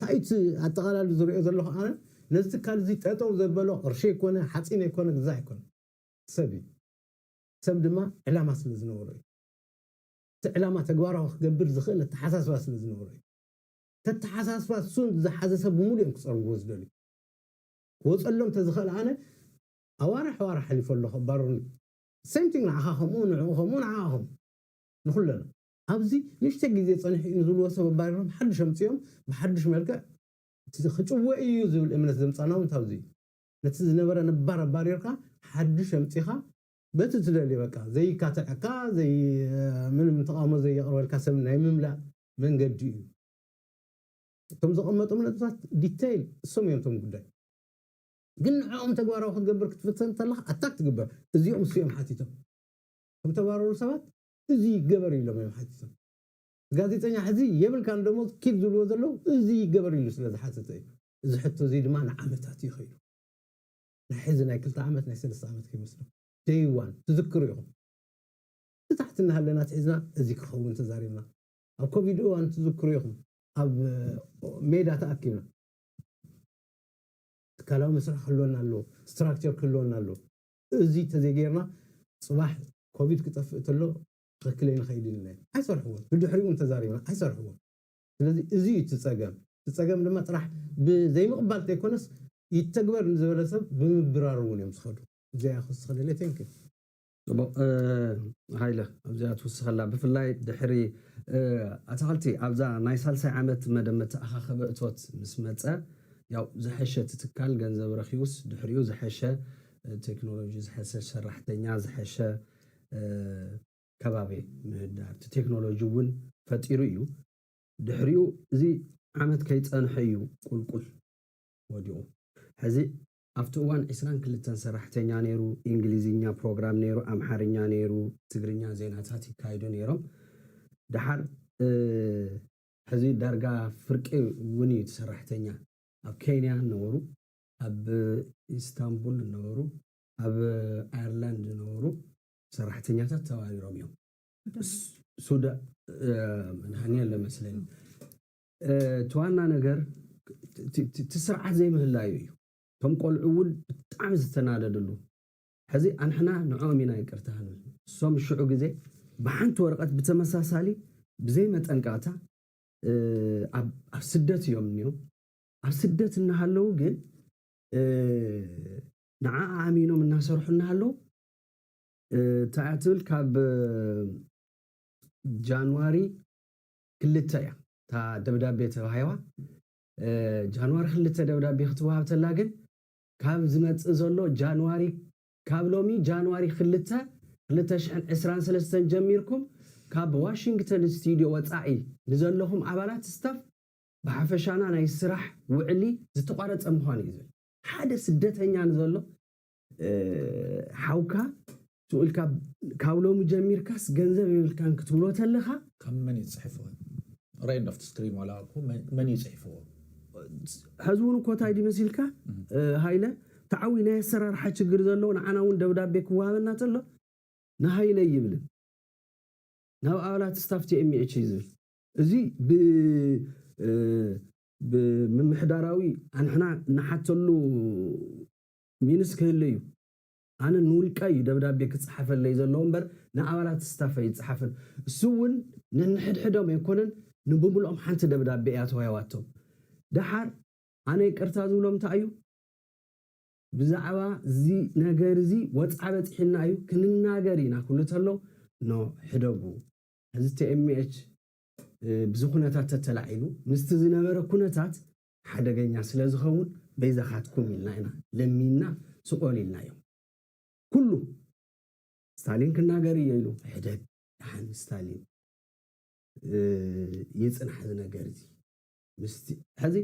ታይ እዩ እቲ ኣጠቓላሊ ዝሪኦ ዘለኹ ኣነ ነዚ ትካል እዚ ጠጠው ዘበሎ ቅርሺ ኣይኮነ ሓፂን ኣይኮነ ግዛ ኣይኮነ ሰብ እዩ ሰብ ድማ ዕላማ ስለ ዝነበሮ እዩ እቲ ዕላማ ተግባራዊ ክገብር ዝኽእል ኣተሓሳስባ ስለ ዝነበሮ እዩ እቲ ኣተሓሳስባ እሱን ዝሓዘ ሰብ ብሙሉእ እዮም ክፀርግዎ ዝደልዩ ክወፀሎም ተዝኽእል ኣነ ኣዋርሕ ኣዋርሕ ሓሊፉ ኣሎ ከባሩኒ same thing ንዓኻ ከምኡ ንዕኡ ከምኡ ንዓኣ ከምኡ ንኹለና ኣብዚ ንእሽተይ ግዜ ጸኒሑ እዩ ንዝብልዎ ሰብ ኣባሪሮም ሓድሽ ኣምጺኦም ብሓድሽ መልክዕ እቲ ክጭወ እዩ ዝብል እምነት ዘምጻና ውን ካብዚ እዩ ነቲ ዝነበረ ነባር ኣባሪርካ ሓድሽ ኣምጺኻ በቲ ትደልዮ በቃ ዘይካትዐካ ዘይ ምንም ተቓውሞ ዘየቕርበልካ ሰብ ናይ ምምላእ መንገዲ እዩ። እቶም ዘቐመጦም ነጥብታት ዲተይል እሶም እዮም እቶም ጉዳይ። ግን ንዕኦም ተግባራዊ ክትገብር ክትፍትን እንተለኻ ኣታክ ትግበር እዚኦም እሱ እዮም ሓቲቶም እቶም ተባረሩ ሰባት እዙይ ይገበር ኢሎም እዮም ሓቲቶም ጋዜጠኛ ሕዚ የብልካን ደሞዝ ኪድ ዝብልዎ ዘለው እዙይ ይገበር ኢሉ ስለ ዝሓተተ እዩ እዚ ሕቶ እዙይ ድማ ንዓመታት እዩ ከይዱ ናይ ሕዚ ናይ ክልተ ዓመት ናይ ሰለስተ ዓመት ከይመስሎ ደይ ዋን ትዝክሩ ኢኹም ብታሕቲ እናሃለና ኣትሒዝና እዙይ ክኸውን ተዛሪብና ኣብ ኮቪድ እዋን ትዝክሩ ኢኹም ኣብ ሜዳ ተኣኪብና ትካላዊ መስርሕ ክህልወና ኣለዎ፣ ስትራክቸር ክህልወና ኣለዎ። እዚ ተዘይገይርና ፅባሕ ኮቪድ ክጠፍእ ተሎ ትኽክል ኣይንኸይድን ኢልና እዩ። ኣይሰርሕዎን፣ ብድሕሪኡ እውን ተዛሪብና ኣይሰርሕዎን። ስለዚ እዚ እዩ እቲ ፀገም። እቲ ፀገም ድማ ጥራሕ ብዘይምቕባል እንተይኮነስ ይተግበር ንዝበለ ሰብ ብምብራር እውን እዮም ዝኸዱ። እዚኣ ክውስኸለለይ። Thank you። ጽቡቕ ሃይለ ኣብዚኣ ትውስኸላ ብፍላይ ድሕሪ ኣታኽልቲ ኣብዛ ናይ ሳልሳይ ዓመት መደብ መተኣኻኸቢ እቶት ምስ መጸ ያው ዝሐሸ እቲ ትካል ገንዘብ ረኺቡስ ድሕሪኡ ዝሐሸ ቴክኖሎጂ ዝሐሸ ሰራሕተኛ ዝሐሸ ከባቢ ምህዳር እቲ ቴክኖሎጂ እውን ፈጢሩ እዩ ድሕሪኡ እዚ ዓመት ከይጸንሐ እዩ ቁልቁል ወዲቑ ሕዚ ኣብቲ እዋን ዕስራን ክልተን ሰራሕተኛ ነይሩ፣ ኢንግሊዝኛ ፕሮግራም ነይሩ፣ ኣምሓርኛ ነይሩ፣ ትግርኛ ዜናታት ይካይዱ ነይሮም ደሓር እ። ሕዚ ዳርጋ ፍርቂ እውን እዩ እቲ ሰራሕተኛ። ኣብ ኬንያ ነበሩ፣ ኣብ ኢስታንቡል ነበሩ፣ ኣብ ኣየርላንድ ነበሩ፣ ሰራሕተኛታት ተባሪሮም እዮም። ሱዳ ን የለን መስለኒ። እቲ ዋና ነገር እቲ ስርዓት ዘይምህላዩ እዩ። እቶም ቆልዑ እውን ብጣዕሚ ዝተናደድሉ። ሕዚ ኣንሕና ንዕኦም ኢና ይቅርታ ክንብል እሶም ሽዑ ግዜ ብሓንቲ ወረቀት ብተመሳሳሊ ብዘይ መጠንቀቅታ ኣብ ስደት እዮም እኒኦም ኣብ ስደት እናሃለዉ ግን ንዓኣ ኣሚኖም እናሰርሑ እናሃለዉ እንታይ እያ ትብል ካብ ጃንዋሪ ክልተ እያ እታ ደብዳቤ ተባሂዋ። ጃንዋሪ ክልተ ደብዳቤ ክትወሃብ ተላ ግን ካብ ዝመጽእ ዘሎ ጃንዋሪ ካብ ሎሚ ጃንዋሪ ክልተ ክልተ ሽሕን ዕስራን ሰለስተን ጀሚርኩም ካብ ዋሽንግተን ስቱድዮ ወጻኢ ንዘለኹም ኣባላት ስታፍ ብሓፈሻና ናይ ስራሕ ውዕሊ ዝተቋረጸ ምዃኑ እዩ ዝብል። ሓደ ስደተኛ ንዘሎ ሓውካ ስቁኢልካ ካብ ሎሚ ጀሚርካስ ገንዘብ የብልካን ክትብሎ ተለካ ካብ መን እዩ ዝጽሕፎ ራይት ኦፍ ስክሪን ዋላ እኮ መን እዩ ጽሒፍዎ ሕዚ እውን እኮ እንታይ ድዩ መሲልካ ሃይለ ተዓዊ ናይ ኣሰራርሓ ችግር ዘለዎ ንዓና እውን ደብዳቤ ክወሃበና ተሎ ንሃይለ ይብልን ናብ ኣባላት ስታፍ ቲኤምኤች እዩ ዝብል እዚ ብምምሕዳራዊ ኣንሕና ንሓተሉ ሚንስ ክህሉ እዩ። ኣነ ንውልቀይ እዩ ደብዳቤ ክጸሓፈለይ ዘለዎ እምበር ንኣባላት ስታፍ ኣይጸሓፍን። እሱ'ውን ነንሕድሕዶም ኣይኮነን ንብምሉኦም ሓንቲ ደብዳቤ እያ ተዋሂባቶም። ደሓር ኣነ ይቅርታ ዝብሎ እንታይ እዩ ብዛዕባ እዚ ነገር እዚ ወጽዓ በጺሑና እዩ ክንናገር ኢና ክብሉ ተለው ን ሕደጉ። ሕዚ tmh ብዚ ኩነታት ተተላዒሉ ምስቲ ዝነበረ ኩነታት ሓደገኛ ስለ ዝኸውን በይዛኻትኩም ኢልና ኢና ለሚንና ስቆል ኢልናዮም ኩሉ ስታሊን ክናገር እዮ ኢሉ ሕደግ ድሓን ስታሊን ይጽናሕ እዚ ነገር እዚ ምስቲ ሕዚ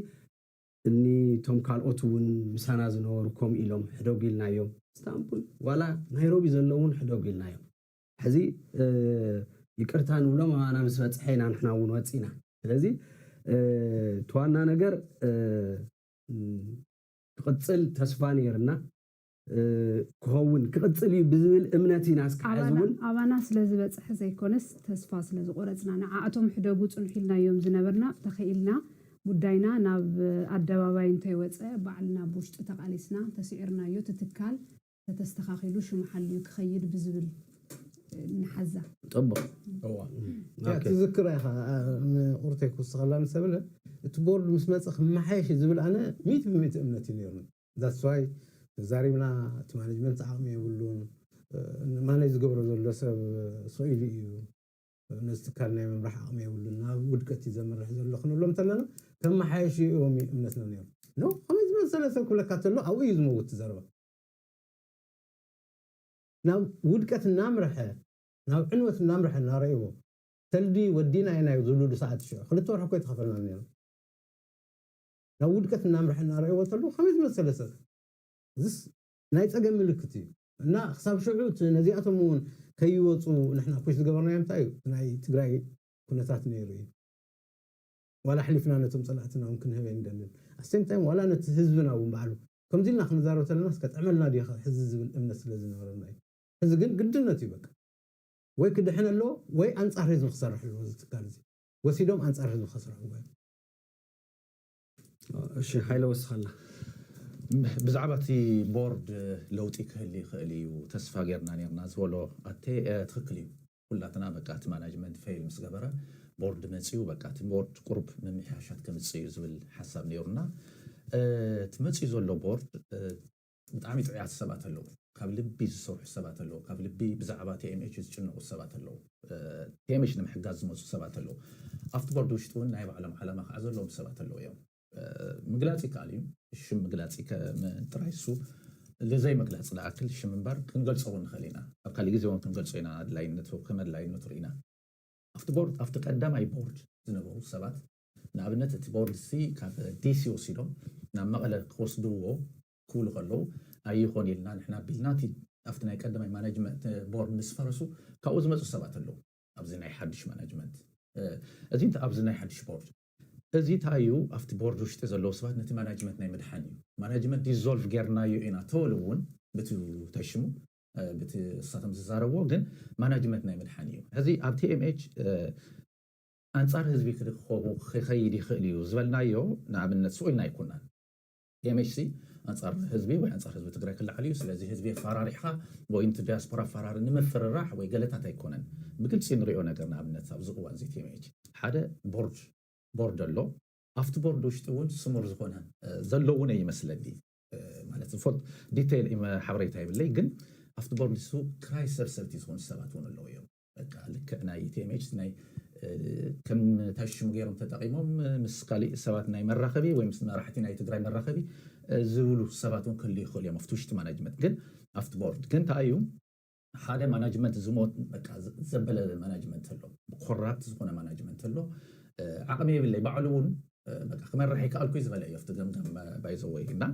እኒ ቶም ካልኦት እውን ምሳና ዝነበሩ ከምኡ ኢሎም ሕደጉ ኢልናዮም ስታንቡል ዋላ ናይሮቢ ዘለውን ሕደጉ ኢልናዮም ሕዚ ይቅርታ ንብሎም ኣባና ምስ በፅሐ ኢና ንሕና እውን ወፂእና ስለዚ እቲ ዋና ነገር ክቅፅል ተስፋ ነይርና ክኸውን ክቅፅል እዩ ብዝብል እምነት ኢና እስካዕ ሕዚ እውን ኣባና ስለዝበፀሐ ዘይኮነስ ተስፋ ስለዝቆረፅና ንዓኣቶም ሕደጉ ፅንሑ ኢልናዮም ዝነበርና ተኸኢልና ጉዳይና ናብ ኣደባባይ እንተይወፀ ባዕልና ብውሽጢ ተቃሊስና ተስዒርናዮ እቲ ትካል ተተስተኻኺሉ ሽሙ ሓልዩ ክኸይድ ብዝብል ንሓዛ። ጽቡቕ እዋ ያ ትዝክራ ኢኻ ንቁርተይ ክውስኸላ ምስ ተብለ እቲ ቦርድ ምስ መጸ ክመሓየሽ እዩ ዝብል ኣነ ሚእቲ ብሚእቲ እምነት እዩ ኔሩኒ that's why ተዛሪብና እቲ ማነጅመንት ዓቕሚ የብሉን ማነጅ ዝገብሮ ዘሎ ሰብ ስቕ ኢሉ እዩ ነዚ ትካል ናይ ምምራሕ ዓቕሚ የብሉን ናብ ውድቀት እዩ ዘምርሕ ዘሎ ክንብሎም እንተለና ከመሓየሽ እዮም እምነትና ኔሩ ኖ ከመይ ዝመሰለ ሰብ ክብለካ ተሎ ኣብኡ እዩ ዝመውት ዘረባ ናብ ውድቀት እናምርሐ፣ ናብ ዕንወት እናምርሐ እናረእይዎ፣ ሰልዲ ወዲእና ኢናዮ ዝብልሉ ሰዓት እዩ ሽዑ። ክልተ ወርሒ እኮ ኣይተኸፈለናን ነይሩ። ናብ ውድቀት እናምርሐ እናረእይዎ ተለዉ ከመይ ዝመሰለ ሰብ እዩ። እዝስ ናይ ጸገም ምልክት እዩ። እና ክሳብ ሽዑ እቲ ነዚኣቶም እውን ከይወጹ ንሕና ፑሽ ዝገበርናዮ እንታይ እዩ እቲ ናይ ትግራይ ኩነታት ነይሩ እዩ። ዋላ ኣሕሊፍና ነቶም ጸላእትና ውን ክንህብ ኣይንደልን at same time ዋላ ነቲ ህዝብና ውን ባዕሉ ከምዚ ኢልና ክንዛረብ ተለናስ ከጥዕመልና ድዩ ከ ሕዚ ዝብል እምነት ስለ ዝነበረና እዩ ሕዚ ግን ግድነት እዩ በቃ ወይ ክድሕን ኣለዎ ወይ ኣንጻር ህዝቢ ክሰርሕ ኣለዎ እዚ ትካል እዚ ወሲዶም ኣንጻር ህዝቢ ከስርዕዎ እዮም። እሺ ሃይለ ወስኸላ ብዛዕባ እቲ ቦርድ ለውጢ ክህሊ ይኽእል እዩ ተስፋ ጌርና ኔርና ዝበሎ ኣቴ ትኽክል እዩ ኩላትና በቃ እቲ ማናጅመንት ፈይል ምስ ገበረ ቦርድ መፅዩ በቃ እቲ ቦርድ ቁሩብ ምምሕያሻት ከምፅእ እዩ ዝብል ሓሳብ ነይሩና። እቲ መፅዩ ዘሎ ቦርድ ብጣዕሚ ጥዑያት ሰባት ኣለዉ፣ ካብ ልቢ ዝሰርሑ ሰባት ኣለዉ፣ ካብ ልቢ ብዛዕባ tmh ዝጭነቑ ሰባት ኣለዉ፣ tmh ንምሕጋዝ ዝመፁ ሰባት ኣለዉ፣ ኣብቲ ቦርድ ውሽጢ እውን ናይ ባዕሎም ዓላማ ከዓ ዘለዎም ሰባት ኣለዉ እዮም። ምግላጽ ይከኣል እዩ ሽም ምግላጽ ጥራይ እሱ ልዘይ ምግላጽ ዝኣክል ሽም እምበር ክንገልጾ እውን ንኽእል ኢና ኣብ ካልእ ግዜ እውን ክንገልጾ ኢና ኣድላይነቱ ከም ኣድላይነቱ ርኢና ኣብቲ ቦርድ ኣብቲ ቀዳማይ ቦርድ ዝነበሩ ሰባት ንኣብነት እቲ ቦርድ እዚ ካብ ዲሲ ወሲዶም ናብ መቐለ ክወስድዎ ክብሉ ከለዉ ኣይኾን ኢልና ንሕና ቢልና እቲ ኣብቲ ናይ ቀዳማይ ማናጅመንት ቦርድ ምስ ፈረሱ ካብኡ ዝመፁ ሰባት ኣለዉ ኣብዚ ናይ ሓዱሽ ማናጅመንት እዚ ኣብዚ ናይ ሓዱሽ ቦርድ እዚ ታይ እዩ ኣብቲ ቦርድ ውሽጢ ዘለዉ ሰባት ነቲ ማናጅመት ናይ ምድሓን እዩ ማናጅመት ዲዞልቭ ጌርናዮ ኢና ተበሉ እውን ብቲ ታይ ሽሙ ብቲ እሳቶም ዝዛረብዎ ግን ማናጅመት ናይ ምድሓን እዩ ሕዚ ኣብ tmh ኣንፃር ህዝቢ ክድኸቡ ክኸይድ ይኽእል እዩ ዝበልናዮ ንኣብነት ስኡልና ኣይኮናን MHC ኣንጻር ህዝቢ ወይ ኣንጻር ህዝቢ ትግራይ ክለዓል እዩ ስለዚ ህዝቢ ኣፋራሪሕኻ ወይ ንቲ ዲያስፖራ ኣፋራሪ ንምፍርራሕ ወይ ገለታት ኣይኮነን ብግልጺ ንሪኦ ነገር ንኣብነት ኣብዚ እዋን እዚ TMH ሓደ ቦርድ ቦርድ ኣሎ ኣብቲ ቦርድ ውሽጢ እውን ስሙር ዝኾነ ዘሎ እውን ኣይመስለኒ ማለት ዝፈልጥ ዲተይል ሓበሬታ የብለይ ግን ኣብቲ ቦርድ ንሱ ክራይ ሰብሰብቲ ዝኾኑ ሰባት እውን ኣለዉ እዮም በቃ ልክዕ ናይ ኢቲኤምኤች ናይ ከም ታይ ሽሙ ገይሮም ተጠቂሞም ምስ ካሊእ ሰባት ናይ መራኸቢ ወይ ምስ መራሕቲ ናይ ትግራይ መራኸቢ ዝብሉ ሰባት እውን ክህልዩ ይኽእሉ እዮም ኣብቲ ውሽጢ ማናጅመንት ግን ኣብቲ ቦርድ ግን እንታይ እዩ ሓደ ማናጅመንት ዝሞት በቃ ዘበለ ማናጅመንት ኣሎ ኮራፕት ዝኾነ ማናጅመንት ኣሎ ዓቕሚ የብለይ ባዕሉ እውን በቃ ክመርሕ ይከኣልኩ ዝበለ እዩ ኣብቲ ገምጋም ባይዘወይ እና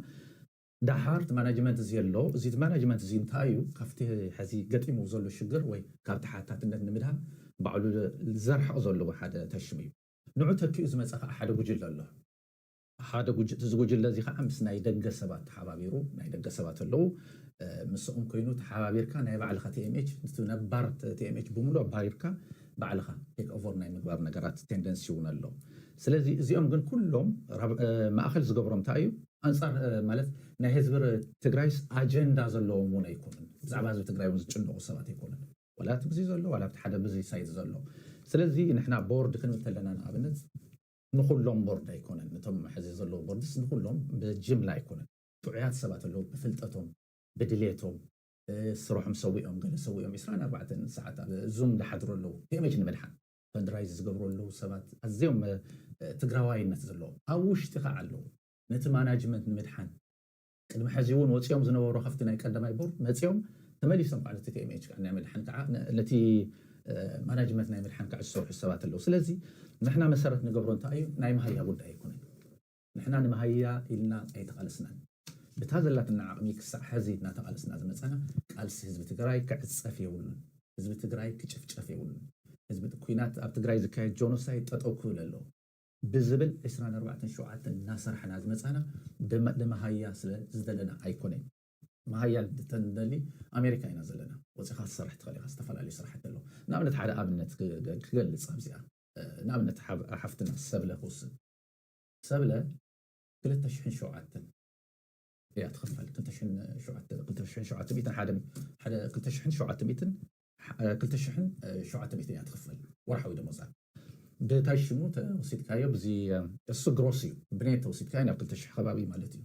ደሓር እቲ ማናጅመንት እዚ ኣሎ። እዚ ማናጅመንት እዚ እንታይ እዩ ካብቲ ሕዚ ገጢሙ ዘሎ ሽግር ወይ ካብ ተሓታትነት ንምድሃን ባዕሉ ዘርሕቕ ዘለዎ ሓደ ተሽም እዩ። ንዑ ተኪኡ ዝመጸ ከኣ ሓደ ጉጅለ ኣሎ። ሓደ ጉጅ እዚ ጉጅለ እዚ ከኣ ምስ ናይ ደገ ሰባት ተሓባቢሩ ናይ ደገ ሰባት ኣለዉ ምስኦም ኮይኑ ተሓባቢርካ ናይ ባዕልኻ tmh እቲ ነባር tmh ብምሉኡ ኣባሪርካ ባዕልኻ take over ናይ ምግባር ነገራት tendency እውን ኣሎ። ስለዚ እዚኦም ግን ኩሎም ማእከል ዝገብሮም እንታይ እዩ? ኣንፃር ማለት ናይ ህዝቢ ትግራይስ ኣጀንዳ ዘለዎም እውን ኣይኮኑን። ብዛዕባ ህዝቢ ትግራይ እውን ዝጭነቑ ሰባት ኣይኮኑን። ዋላ እቲ ብዙይ ዘሎ ዋላ እቲ ሓደ ብዙይ ሳይት ዘሎ። ስለዚ ንሕና ቦርድ ክንብል ከለና ንኣብነት ንኹሎም ቦርድ ኣይኮነን። ነቶም ሕዚ ዘለዉ ቦርድስ ንኹሎም ብጅምላ ኣይኮነን። ጥዑያት ሰባት ኣለዉ ብፍልጠቶም፣ ብድሌቶም፣ ስርሖም ሰዊኦም ገለ ሰዊኦም ዕስራን ኣርባዕተን ሰዓት ኣብ ዙም ዝሓድሩ ኣለዉ። ከመይ ንምድሓን? ፈንድራይዝ ዝገብሩ ኣለዉ ሰባት ኣዝዮም ትግራዋይነት ዘለዎም ኣብ ውሽጢ ከዓ ኣለዉ ነቲ ማናጅመንት ንምድሓን ቅድሚ ሕዚ እውን ወፂኦም ዝነበሩ ከፍቲ ናይ ቀዳማይ ቦርድ መፂኦም ተመሊሶም ከዓ ነቲ ቲኤምኤች ከዓ ናይ ምድሓን ከዓ ነቲ ማናጅመንት ናይ ምድሓን ከዓ ዝሰርሑ ሰባት ኣለዉ ስለዚ ንሕና መሰረት ንገብሮ እንታይ እዩ ናይ መሃያ ጉዳይ ኣይኮነን ንሕና ንመሃይያ ኢልና ኣይተቓለስናን። ብታ ዘላትና ዓቕሚ ክሳዕ ሐዚ እናተቓለስና ዝመፃና ቃልሲ ህዝቢ ትግራይ ክዕፀፍ የብሉን። ህዝቢ ትግራይ ክጭፍጨፍ የብሉን። ህዝቢ ኩናት ኣብ ትግራይ ዝካየድ ጆኖሳይድ ጠጠው ክብል ኣለዎ። ብዝብል ዕስራን ኣርባዕተን ሸውዓተን እናሰራሕና ዝመፃና ንመሃያ ስለ ዝደለና ኣይኮነይ። መሃያ እንተንደሊ ኣሜሪካ ኢና ዘለና። ወፂእኻ ክትሰርሕ ትኽእል ኢኻ ዝተፈላለዩ ስራሕቲ ኣለዉ። ንኣብነት ሓደ ኣብነት ክገልፅ ኣብዚኣ ንኣብነት ሓፍትና ሰብለ ክውስድ። ሰብለ ክልተ ሽሕን ሸውዓተን እያ ትኽፈል ክልተ ሽሕን ሸውዓተ ክልተ ሽሕን ሸውዓተ ሚእትን ሓደ ሓደ ክልተ ሽሕን ሸውዓተ ሚእትን ክልተ ሽሕን ሸውዓተ ሚእትን እያ ትኽፈል ወርሓዊ ደሞዛ ብታይ ሽሙ ተወሲድካዮ ብዚ እሱ ግሮስ እዩ ብኔት ተወሲድካዮ ናብ ክልተ ሽሕ ከባቢ ማለት እዩ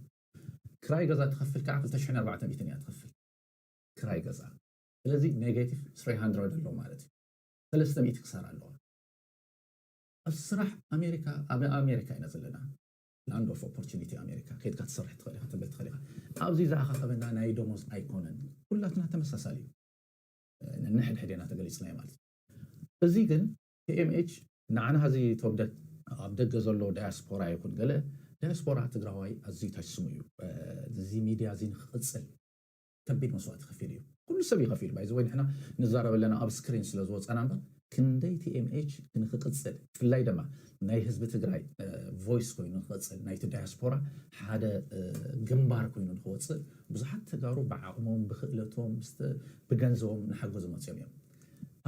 ክራይ ገዛ ትኸፍል ከዓ ክልተ ሽሕን ኣርባዕተ ሚእትን እያ ትኽፍል ክራይ ገዛ ስለዚ ኔጌቲቭ ስሪ ሃንድረድ ኣሎ ማለት እዩ ሰለስተ ሚእቲ ክሳራ ኣለዋ ኣብ ስራሕ ኣሜሪካ ኣብ ኣሜሪካ ኢና ዘለና Land of Opportunity ኣሜሪካ ከይድካ ትሰርሕ ትክእል ኢካ ተንብር ትክእል ኢካ ኣብዚ ዝኣካከበና ናይ ደሞዝ ኣይኮነን ኩላትና ተመሳሳሊ እዩ ነንሕድሕድ ኢና ተገሊጽናዮ ማለት እዩ እዚ ግን PMH ንዓና እዚ ተወደት ኣብ ደገ ዘሎ ዳያስፖራ ይኹን ገለ ዳያስፖራ ትግራዋይ ኣዝዩ ታች ስሙ እዩ እዚ ሚድያ እዚ ንክቕፅል ከቢድ መስዋእቲ ከፊሉ እዩ ኩሉ ሰብ እዩ ከፊሉ ባይ ዘወይ ንሕና ንዛረብ ኣለና ኣብ ስክሪን ስለ ዝወጻና እምበር ክንደይ TMH ንክቅጽል ብፍላይ ደማ ናይ ህዝቢ ትግራይ ቮይስ ኮይኑ ንክቅጽል ናይቲ ዳያስፖራ ሓደ ግንባር ኮይኑ ንክወጽእ ብዙሓት ተጋሩ ብዓቅሞም ብክእለቶም ብገንዘቦም ናሓገዙ መጽዮም እዮም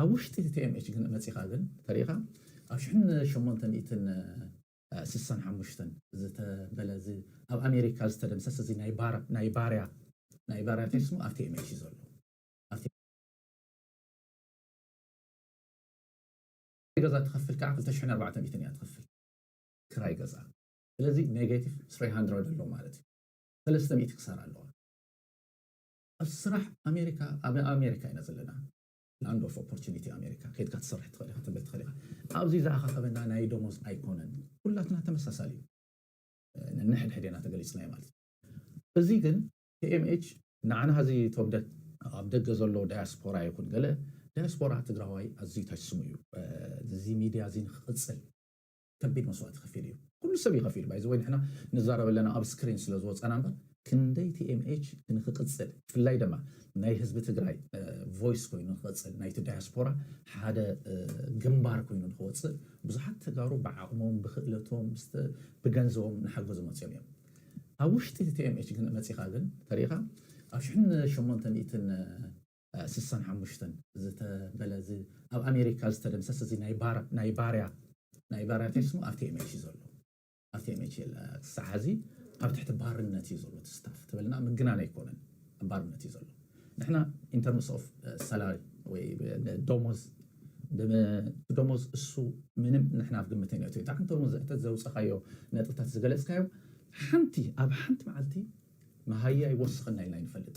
ኣብ ውሽጢ እቲ TMH ግን መጺኻ ግን ተሪኢኻ ኣብ ሽሕን ሸሞንተ ሚእትን ስሳን ሓሙሽተን ዝተበለ እዚ ኣብ ኣሜሪካ ዝተደምሰስ እዚ ናይ ባር ናይ ባርያ ናይ ባርያ እንታይ ስሙ ኣብቲ ኤምኤች ዘሎ ኣብቲ ገዛ ትኸፍል ከዓ ክልተ ሽሕን ኣርባዕተ ሚእትን እያ ትኸፍል ክራይ ገዛ ስለዚ ኔጌቲቭ ስሪ ሃንድረድ ኣሎ ማለት እዩ ሰለስተ ሚእቲ ክሳራ ኣለዋ ኣብ ስራሕ ኣሜሪካ ኣብ ኣሜሪካ ኢና ዘለና Land of Opportunity ኣሜሪካ ከይድካ ትሰርሕ ትኽእል ኢኻ ትብል ትኽእል ኢኻ ኣብዚ ዘኣኻኸበና ናይ ደሞዝ ኣይኮነን ኩላትና ተመሳሳሊ እዩ ነንሕድሕድ ኢና ተገሊፅናዮ ማለት እዩ እዚ ግን TMH ንዓና እዚ ተወደት ኣብ ደገ ዘሎ ዳያስፖራ ይኹን ገለ ዳያስፖራ ትግራዋይ ኣዝዩ ታች ስሙ እዩ እዚ ሚድያ እዚ ንክቕፅል ከቢድ መስዋእቲ ከፊሉ እዩ ኩሉ ሰብ እዩ ከፊሉ ባይ ዘ ወይ ንሕና ንዛረብ ኣለና ኣብ ስክሪን ስለ ዝወጻና እምበር ክንደይ TMH ንክቅጽል ብፍላይ ደማ ናይ ህዝቢ ትግራይ ቮይስ ኮይኑ ንክቅጽል ናይቲ ዳያስፖራ ሓደ ግንባር ኮይኑ ንክወጽእ ብዙሓት ተጋሩ ብዓቅሞም ብክእለቶም ብገንዘቦም ናሓገዙ መጽዮም እዮም ኣብ ውሽጢ እቲ TMH ግን መጺኻ ግን ተሪኢኻ ኣብ ሽሕን ሸሞንተ ሚእትን ስሳን ሓሙሽተን ዝተበለ እዚ ኣብ ኣሜሪካ ዝተደምሰስ እዚ ናይ ባር- ናይ ባርያ ናይ ባርያ እንታይ ስሙ ኣብ ቲኤምኤች እዩ ዘሎ ኣብ ቲኤምኤች የለ ክሳዕ ሕዚ ኣብ ትሕቲ ባርነት እዩ ዘሎ እቲ ስታፍ ትብልና ምግናን ኣይኮነን ኣብ ባርነት እዩ ዘሎ ንሕና ኢንተርምስ ኦፍ ሰላሪ ወይ ደሞዝ ደሞዝ እሱ ምንም ንሕና ኣብ ግምት ነትዮ እቲ ሓንቲ ሎሚ ዘሕተት ዘውፀኻዮ ነጥብታት ዝገለፅካዮ ሓንቲ ኣብ ሓንቲ መዓልቲ መሃያ ይወስኸና ኢልና ይንፈልጥ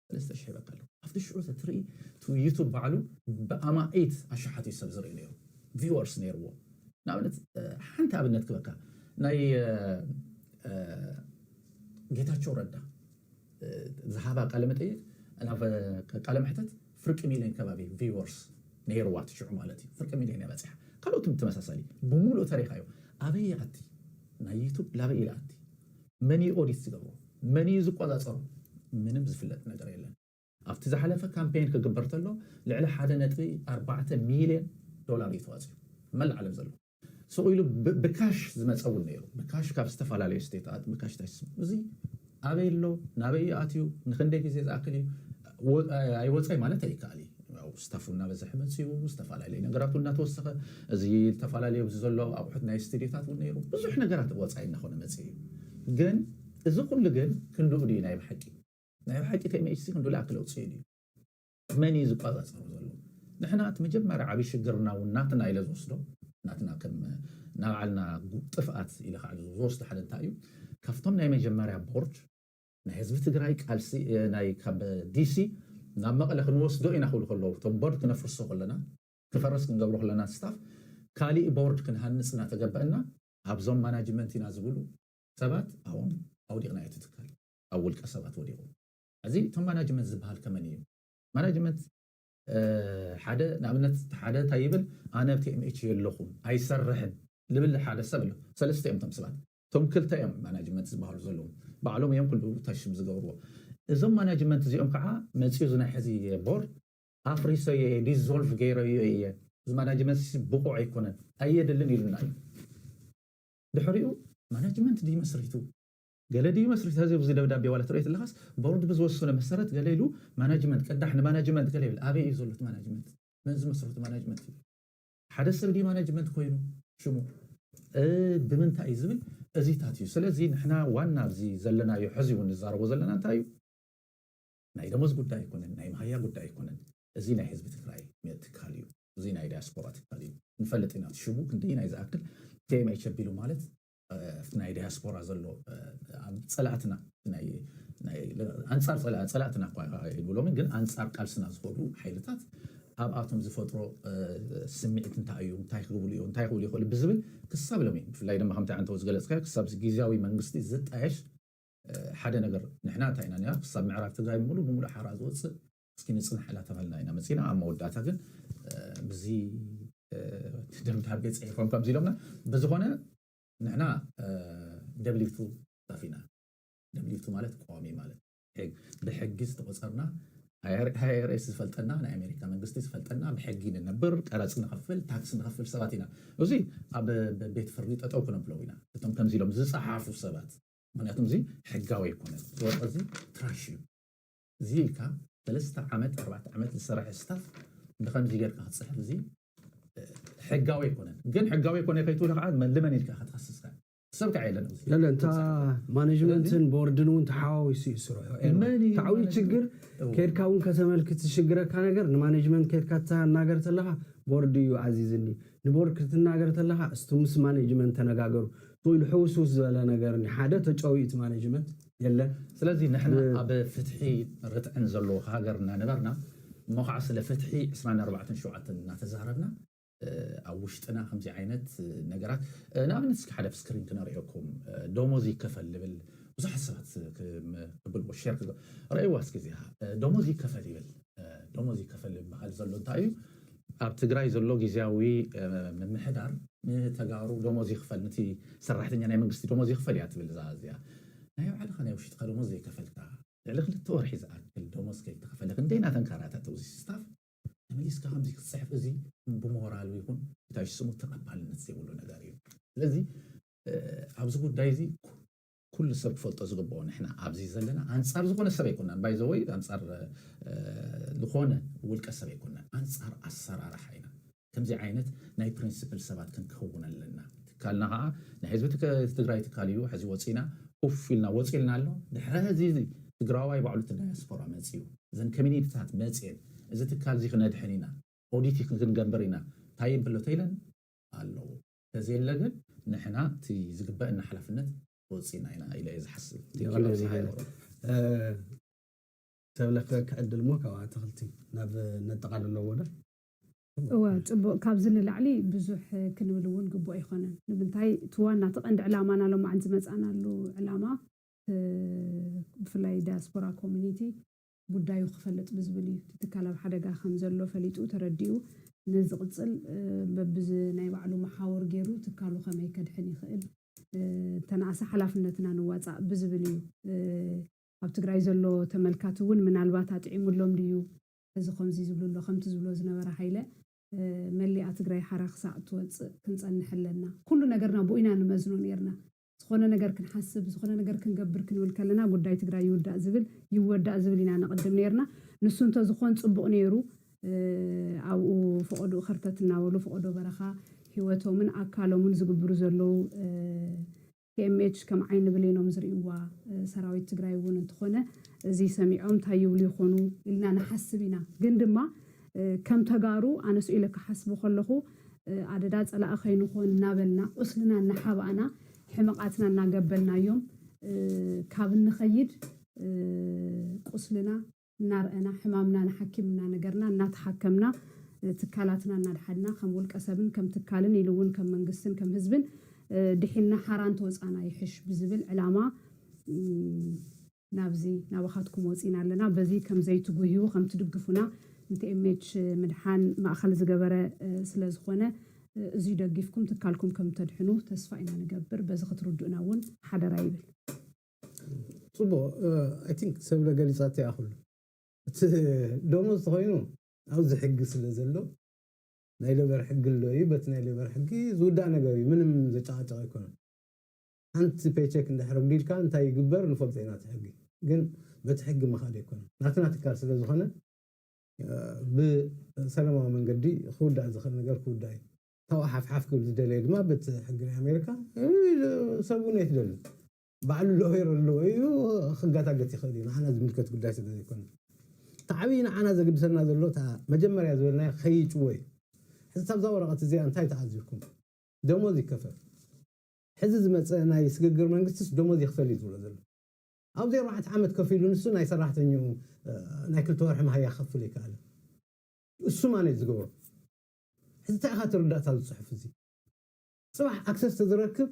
ሰለስተ ሽሕ ይበካ ኣሎ ኣብቲ ሽዑ ተትርኢ እቲ ዩቱብ ባዕሉ ብኣማኢት ኣሽሓት እዩ ሰብ ዝርኢ ነይሩ ቪወርስ ነይርዎ ንኣብነት ሓንቲ ኣብነት ክበካ ናይ ጌታቸው ረዳ ዝሃባ ቃለ መጠይቅ ናብ ቃለ መሕተት ፍርቂ ሚሊዮን ከባቢ ቪወርስ ነይርዋ እቲ ሽዑ ማለት እዩ ፍርቂ ሚሊዮን እያ በፂሓ ካልኦትም ተመሳሳሊ ብሙሉእ ተሪካዮ ኣበይ ኣቲ ናይ ዩቱብ ላበይ ኢላ ኣቲ መን እዩ ኦዲት ዝገብሮ? መን እዩ ዝቆፃፀሮ? ምንም ዝፍለጥ ነገር የለን። ኣብቲ ዝሓለፈ ካምፔይን ክግበር ተሎ ልዕሊ ሓደ ነጥቢ ኣርባዕተ ሚልየን ዶላር እዩ ተዋፂኡ። መላእ ዓለም ዘሎ ሱቕ ኢሉ ብካሽ ዝመፀ እውን ነይሩ። ብካሽ ካብ ዝተፈላለዩ ስቴታት ብካሽ ታሽ እዚ ኣበይ ኣሎ? ናበይ እዩ ኣትዩ? ንኽንደይ ግዜ ዝኣክል እዩ? ኣይወፀይ ማለት ኣይከኣል እዩ። ያው ስታፉ እናበዘሐ መፂኡ፣ ዝተፈላለየ ነገራት እውን እናተወሰኸ፣ እዚ ዝተፈላለየ ኣብዚ ዘሎ ኣቑሑት ናይ ስቲድዮታት እውን ነይሩ፣ ብዙሕ ነገራት ወፃኢ እናኾነ መፂኡ እዩ። ግን እዚ ኩሉ ግን ክንድኡ ድዩ ናይ ብሓቂ? ናይ ብሓቂ ቴምኤችሲ ክንድኡ ልኣክል ኣውፂኡ ድዩ? መን እዩ ዝቋፃፀሮ ዘሎ? ንሕና እቲ መጀመርያ ዓብዪ ሽግርና እውን ናትና ኢለ ዝወስዶ፣ ናትና ከም ናባዕልና ጥፍኣት ኢለ ከዓ ዝወስዶ ሓደ እንታይ እዩ፣ ካፍቶም ናይ መጀመርያ ቦርድ፣ ናይ ህዝቢ ትግራይ ቃልሲ ናይ ካብ ዲሲ ናብ መቐለ ክንወስዶ ኢና ክብሉ ከለዉ እቶም ቦርድ ክነፍርሶ ከለና ክፈርስ ክንገብሮ ከለና ስታፍ ካሊእ ቦርድ ክንሃንፅ እናተገበእና ኣብዞም ማናጅመንት ኢና ዝብሉ ሰባት ኣብኦም ኣውዲቕናዮ እቲ ትካል ኣብ ውልቀ ሰባት ወዲቑ ሕዚ እቶም ማናጅመንት ዝበሃል ከመን እዩ ማናጅመንት ሓደ ንኣብነት ሓደ እንታይ ይብል ኣነ ቲኤምኤች የለኹም ኣይሰርሕን ልብል ሓደ ሰብ ኣሎ ሰለስተ እዮም እቶም ሰባት እቶም ክልተ እዮም ማናጅመንት ዝብሃሉ ዘለዉ ባዕሎም እዮም ኩሉ እታ ሽም ዝገብርዎ እዞም ማናጅመንት እዚኦም ከዓ መፂኡ እዚ ናይ ሐዚ ቦርድ ኣፍሪሰዮ እየ ዲዞልቭ ገይረዮ እየ እዚ ማናጅመንት እዚ ብቁዕ ኣይኮነን ኣየድልን ኢሉና እዩ ድሕሪኡ ማናጅመንት ድዩ መስሪቱ ገለ ድዩ መስሪቱ ሐዚ ኣብዚ ደብዳቤ ዋላ ትሪኦ ተለካስ ቦርድ ብዝወሰኖ መሰረት ገለ ኢሉ ማናጅመንት ቅዳሕ ንማናጅመንት ገለ ይብል ኣበይ እዩ ዘሎ እቲ ማናጅመንት መን ዝመስረቶ ማናጅመንት እዩ ሓደ ሰብ ድዩ ማነጅመንት ኮይኑ ሽሙ ብምንታይ እዩ ዝብል እዚታት እዩ። ስለዚ ንሕና ዋና ኣብዚ ዘለናዮ ሕዚ እውን ንዛረቦ ዘለና እንታይ እዩ ናይ ደሞዝ ጉዳይ ኣይኮነን፣ ናይ መሃያ ጉዳይ ኣይኮነን። እዚ ናይ ህዝቢ ትግራይ ትካል እዩ። እዚ ናይ ዳያስፖራ ትካል እዩ። ንፈልጥ ኢና እቲ ሽሙ ክንደየናይ ዝኣክል KMH ኣቢሉ ማለት ናይ ዲያስፖራ ዘሎ ፀላእትና ኣንፃር ፀላእትና እኳ ኣይብሎምን ግን ኣንፃር ቃልስና ዝኾኑ ሓይልታት ኣብኣቶም ዝፈጥሮ ስምዒት እንታይ እዩ እንታይ ክብሉ እዩ እንታይ ክብሉ ይኽእሉ ብዝብል ክሳብ ሎሚ ብፍላይ ድማ ከምቲ ዓንተው ዝገለፅካዮ ክሳብ ግዝያዊ መንግስቲ ዝጣየሽ ሓደ ነገር ንሕና እንታይ ኢና ነይራ ክሳብ ምዕራብ ትግራይ ሙሉእ ብሙሉእ ሓራ ዝወፅእ እስኪ ንጽናሕ እላተበልና ኢና መጺና ኣብ መወዳእታ ግን ብዚ ደብዳቤ ጽሒፎም ከምዚ ኢሎምና ብዝኾነ ንሕና ደብሊቱ ስታፍ ኢና ደብሊቱ ማለት ቀዋሚ ማለት ብሕጊ ዝተቆጸርና ኣይኣርኤስ ዝፈልጠና ናይ ኣሜሪካ መንግስቲ ዝፈልጠና ብሕጊ ንነብር ቀረፅ ንኸፍል ታክስ ንኸፍል ሰባት ኢና እዚ ኣብ ቤት ፍርዲ ጠጠው ክነብለው ኢና እቶም ከምዚ ኢሎም ዝፀሓፉ ሰባት ምክንያቱም እዚ ሕጋዊ ኣይኮነን ወርቂ እዚ ትራሽ እዩ እዚ ኢልካ ሰለስተ ዓመት ኣርባዕተ ዓመት ዝሰረሐ ስታፍ ብከምዚ ገርካ ክትጽሕፍ እዚ ሕጋዊ ኣይኮነን ግን ሕጋዊ ኣይኮነ ከይትብሎ ከዓ ልመን ኢልካ ከትኸስስካ ሰብ ከዓ የለን ኣብዚ ለለ እንታ ማኔጅመንትን ቦርድን እውን ተሓዋዊሱ እዩ ስርሑ መን ኤርባ እዩ እቲ ዓብዪ ማኔጅመንት? ችግር እዎ። ከድካ እውን ከተመልክት ዝሽግረካ ነገር ንማኔጅመንት ከድካ ትናገር ተለኻ ቦርድ እዩ ኣዚዝኒ ንቦርድ ክትናገር ተለኻ እስቲ ምስ ማኔጅመንት ተነጋገሩ ትብሉ ሕውስውስ ዝበለ ነገር እኒ ሓደ ተጨውዩ እቲ ማኔጅመንት የለን ስለዚ ንሕና ኣብ ፍትሒ ርትዕን ዘለዎ ሃገር እናነበርና እሞ ካዓ ስለ ፍትሒ ዕስራን ኣርባዕተን ሸውዓተን እናተዛረብና ኣብ ውሽጥና ከምዚ ዓይነት ነገራት ንኣብነት እስኪ ሓደ ኣብ ስክሪን ክነርእየኩም ዶሞዝ ይከፈል ልብል ብዙሓት ሰባት ክብልዎ ሼር ክገብሩ ረእይዋ እስኪ እዚኣ ዶሞዝ ይከፈል ይብል ዶሞዝ ይከፈል ዝባሃል ዘሎ እንታይ እዩ ኣብ ትግራይ ዘሎ ጊዚያዊ ምምሕዳር ንተጋሩ ዶሞዝ ይኽፈል ንቲ ሰራሕተኛ ናይ መንግስቲ ዶሞዝ ይኽፈል እያ ትብል እዛ እዚኣ ናይ ባዕልኻ ናይ ውሽጥኻ ዶሞዝ ዘይከፈልካ ልዕሊ ክልተ ወርሒ ዝኣክል ዶሞዝ ከይተኸፈለ ክንደይ ናተንካራተተ ውዚ ስታፍ ተመሊስካ ከምዚ ክትፅሕፍ እዚ ብሞራል ይኹን ብታይ ስሙ ተቐባልነት ዘይብሉ ነገር እዩ ስለዚ ኣብዚ ጉዳይ እዚ ኩሉ ሰብ ክፈልጦ ዝግብኦ ንሕና ኣብዚ ዘለና ኣንጻር ዝኾነ ሰብ ኣይኮናን ባይ ዘወይ ኣንጻር ዝኾነ ውልቀ ሰብ ኣይኮናን ኣንጻር ኣሰራርሓ ኢና ከምዚ ዓይነት ናይ ፕሪንስፕል ሰባት ክንከውን ኣለና። ትካልና ከኣ ናይ ህዝቢ ትግራይ ትካል እዩ ሕዚ ወጺና ኡፍ ኢልና ወጺልና ኣሎ ድሕሪ ሕዚ ትግራዋይ ባዕሉ እቲ ዳያስፖራ መጺኡ እዘን ከሚኒቲታት መጺኤን እዚ ትካል እዚ ክነድሕን ኢና ኦዲቲ ክንገንብር ኢና ታይብ ኣሎ ተይለን ኣለዉ ተዘየለ ግን ንሕና እቲ ዝግበእና ሓላፍነት ተወፂእና ኢና ኢለ እየ ዝሓስብ። የቐንየልና ሃይለ። ሰብለ ክዕድል እሞ ካብኡ ኣትኽልቲ ናብ ነጠቓልሎ ወረ። እወ ፅቡቕ ካብዚ ንላዕሊ ብዙሕ ክንብል እውን ግቡእ ኣይኾነን። ንምንታይ እቲ ዋና እቲ ቀንዲ ዕላማና ሎማዕንቲ ዝመፃእናሉ ዕላማ ብፍላይ ዳያስፖራ ኮሚኒቲ ጉዳዩ ክፈልጥ ብዝብል እዩ። እቲ ትካል ኣብ ሓደጋ ከም ዘሎ ፈሊጡ ተረዲኡ ንዝቕጽል በብዚ ናይ ባዕሉ መሓውር ገይሩ ትካሉ ከመይ ከድሕን ይኽእል እንተነኣሰ ሓላፍነትና ንዋጻእ ብዝብል እዩ። ኣብ ትግራይ ዘሎ ተመልካቲ እውን ምናልባት ኣጥዒሙሎም ድዩ እዚ ከምዚ ዝብሉ ኣሎ ከምቲ ዝብሎ ዝነበረ ሃይለ መሊኣ ትግራይ ሓራ ክሳዕ እትወጽእ ክንጸንሕ ኣለና ኩሉ ነገርና ብኡ ኢና ንመዝኖ ኔርና ዝኾነ ነገር ክንሓስብ፣ ዝኾነ ነገር ክንገብር ክንብል ከለና ጉዳይ ትግራይ ይውዳእ ዝብል ይወዳእ ዝብል ኢና ነቕድም ነይርና። ንሱ እንተዝኾን ፅቡቕ ነይሩ። ኣብኡ ፈቖድኡ ከርተት እናበሉ ፈቖዶ በረኻ ህይወቶምን ኣካሎምን ዝግብሩ ዘለዉ ቲኤምኤች ከም ዓይኒ ብሌኖም ዝርእይዋ ሰራዊት ትግራይ እውን እንትኾነ እዚ ሰሚዖም እንታይ ይብሉ ይኾኑ ኢልና ንሓስብ ኢና። ግን ድማ ከም ተጋሩ ኣነስ ኢለ ክሓስቦ ከለኹ ኣደዳ ጸላኢ ከይንኾን እናበልና ቁስልና እናሓባእና ሕመቓትና እናገበልናዮም ካብ እንኸይድ ቁስልና እናርኣና ሕማምና ንሓኪም እናነገርና እናተሓከምና ትካላትና እናድሓንና ከም ውልቀ ሰብን ከም ትካልን ኢሉ እውን ከም መንግስትን ከም ህዝብን ድሒንና ሓራ እንተወጻእና ይሕሽ ብዝብል ዕላማ ናብዚ ናባኻትኩም ወጺና ኣለና በዚ ከምዘይትጉህዩ ከምትድግፉና ንtmh ምድሓን ማእኸል ዝገበረ ስለዝኾነ እዙይ ደጊፍኩም ትካልኩም ከምተድሕኑ ተስፋ ኢና ንገብር በዚ ክትርድኡና እውን ሓደራ ይብል። ጽቡቕ i think ሰብለ ገሊጻቶ እያ ኩሉ እቲ ደሞዝ ተኾይኑ ኣብዚ ሕጊ ስለ ዘሎ ናይ ሌበር ሕጊ ኣሎ እዩ በቲ ናይ ሌበር ሕጊ ዝውዳእ ነገር እዩ ምንም ዘጨቓጭቕ ኣይኮነን። ሓንቲ ፔቸክ እንድሕር ኣጉዲልካ እንታይ ይግበር ንፈልጦ ኢና እቲ ሕጊ ግን በቲ ሕጊ ምኻድ ኣይኮነን ናትና ትካል ስለ ዝኾነ ብሰለማዊ መንገዲ ክውዳእ ዝኽእል ነገር ክውዳእ እዩ ካብኡ ሓፍሓፍ ክብል ዝደለየ ድማ በቲ ሕጊ ናይ ኣሜሪካ ኢሉ ሰብ እውን ኣይትደልን ባዕሉ ሎየር ኣለዎ ኢሉ ክጋታገት ይኽእል እዩ ንዓና ዝምልከት ጉዳይ ስለ ዘይኮነ እቲ ዓብዪ ንዓና ዘግድሰና ዘሎ እታ መጀመርያ ዝበልናያ ከይጭወ እዩ ሕዚ ታብዛ ወረቐት እዚኣ እንታይ ተኣዚርኩም ደሞዝ ይከፈል ሕዚ ዝመጸ ናይ ስግግር መንግስቲስ ደሞዝ ይኽፈል እዩ ዝብሎ ዘሎ። ኣብዚ ኣርባዕተ ዓመት ከፍ ኢሉ ንሱ ናይ ሰራሕተኝኡ ናይ ክልተ ወርሒ መሃያ ክኸፍል ኣይከኣለን። እሱ ማን እዩ ዝገብሮ? ሕዚ እንታይ ኢኻ ትርዳእታ ኣብዚ ጽሑፍ እዚ? ጽባሕ ኣክሰስ ተዝረክብ